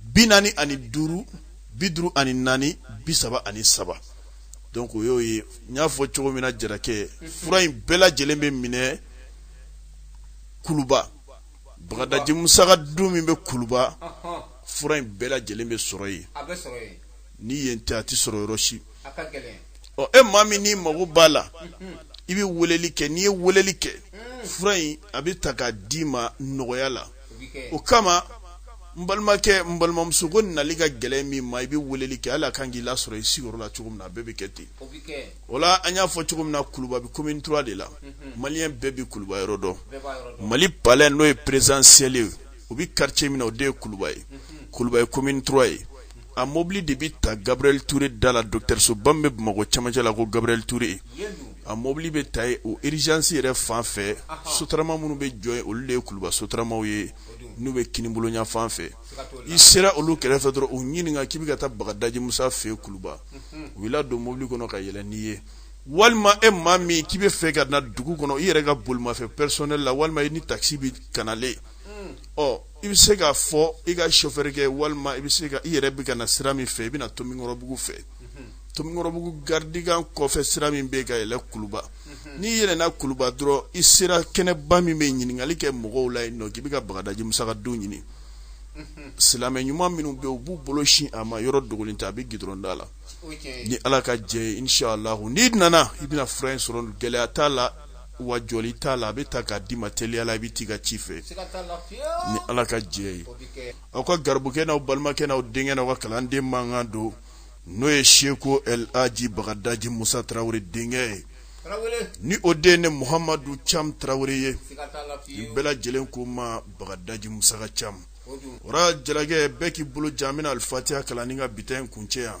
bi naani ani duuru bi duuru ani naani bi saba ani saba donc o y'o ye n y'a fɔ cogo min na jarakɛ fura in bɛɛ lajɛlen bɛ minɛ kuluba bagadaji musa ka du min bɛ kuluba fura in bɛɛ lajɛlen bɛ sɔrɔ yen ni yen tɛ a tɛ sɔrɔ yɔrɔ si ɔ e maa min n'i mago b'a la i bɛ weleli kɛ n'i ye weleli kɛ fura in a bɛ ta k'a d'i ma nɔgɔya la o kama n balimakɛ n balimamuso ko nali ka gɛlɛn min ma i bɛ weleli kɛ hali a kan k'i lasɔrɔ i sigiyɔrɔ la cogo min na a bɛɛ bɛ kɛ ten o la an y'a fɔ cogo min na kuluba bɛ commune trois de la maliyɛn bɛɛ bɛ kuluba yɔrɔ dɔn mali palais n'o ye présidentiel ye o bɛ quartier min na o de ye kuluba ye kuluba ye commune trois ye a mɔbili de bɛ ta gabriel touré da la dɔgɔtɔrɔsoba min bɛ bamakɔ cɛmancɛ la ko gabriel touré a mɔbili bɛ ta yen o urgence yɛrɛ fan fɛ sotarama minnu bɛ jɔ olu de ye kuluba sotaramaw ye n'u bɛ kinibolo ɲafan fɛ i sera olu kɛrɛfɛ dɔrɔn u ɲininka k'i bɛ ka taa bagadaji musa fɛ yen kuluba u b'i don mobili kɔnɔ ka yɛlɛ n'i ye walima e maa min k'i bɛ fɛ ka na dugu kɔnɔ i yɛrɛ ka bolimafɛn personnel la walima i ni takisi bɛ kanalen ɔ i bɛ se k'a fɔ i ka sofɛri kɛ walima i bɛ se ka i yɛrɛ bɛ ka na sira min fɛ i bɛ na tomikɔrɔbugu fɛ tomikɔrɔbugu garidikan kɔfɛ sira min bɛ ka yɛlɛ kuluba n'i yɛlɛnna kuluba dɔrɔn i sera kɛnɛba min bɛ ɲininkali kɛ mɔgɔw la yen nɔ k'i bɛ ka bagadaji musa ka du ɲini silamɛ ɲuman minnu bɛ u b'u bolo sin a ma yɔrɔ dogolen tɛ a bɛ gidɔrɔn da la ni ala ka jɛ ye inshaallahu n'i nana i bɛna fura in sɔrɔ gɛlɛya t'a la wa jɔli t'a la a bɛ ta k'a d'i ma teliya la i bɛ t'i ka ci fɛ ni ala ka jɛ ye aw ka garibukɛ n'aw balimakɛ n'aw denkɛ n'aw ka kalanden mankan don n'o ye seko el aji bagadaji musa tarawele denkɛ ye ni o den ne muhamadu cam tarawele ye nin bɛɛ lajɛlen ko ma bagadaji musa ka cam o ra jarakɛ bɛɛ k'i bolo jan bɛna alifatiya kalan ni ka bi ta in kuncɛ yan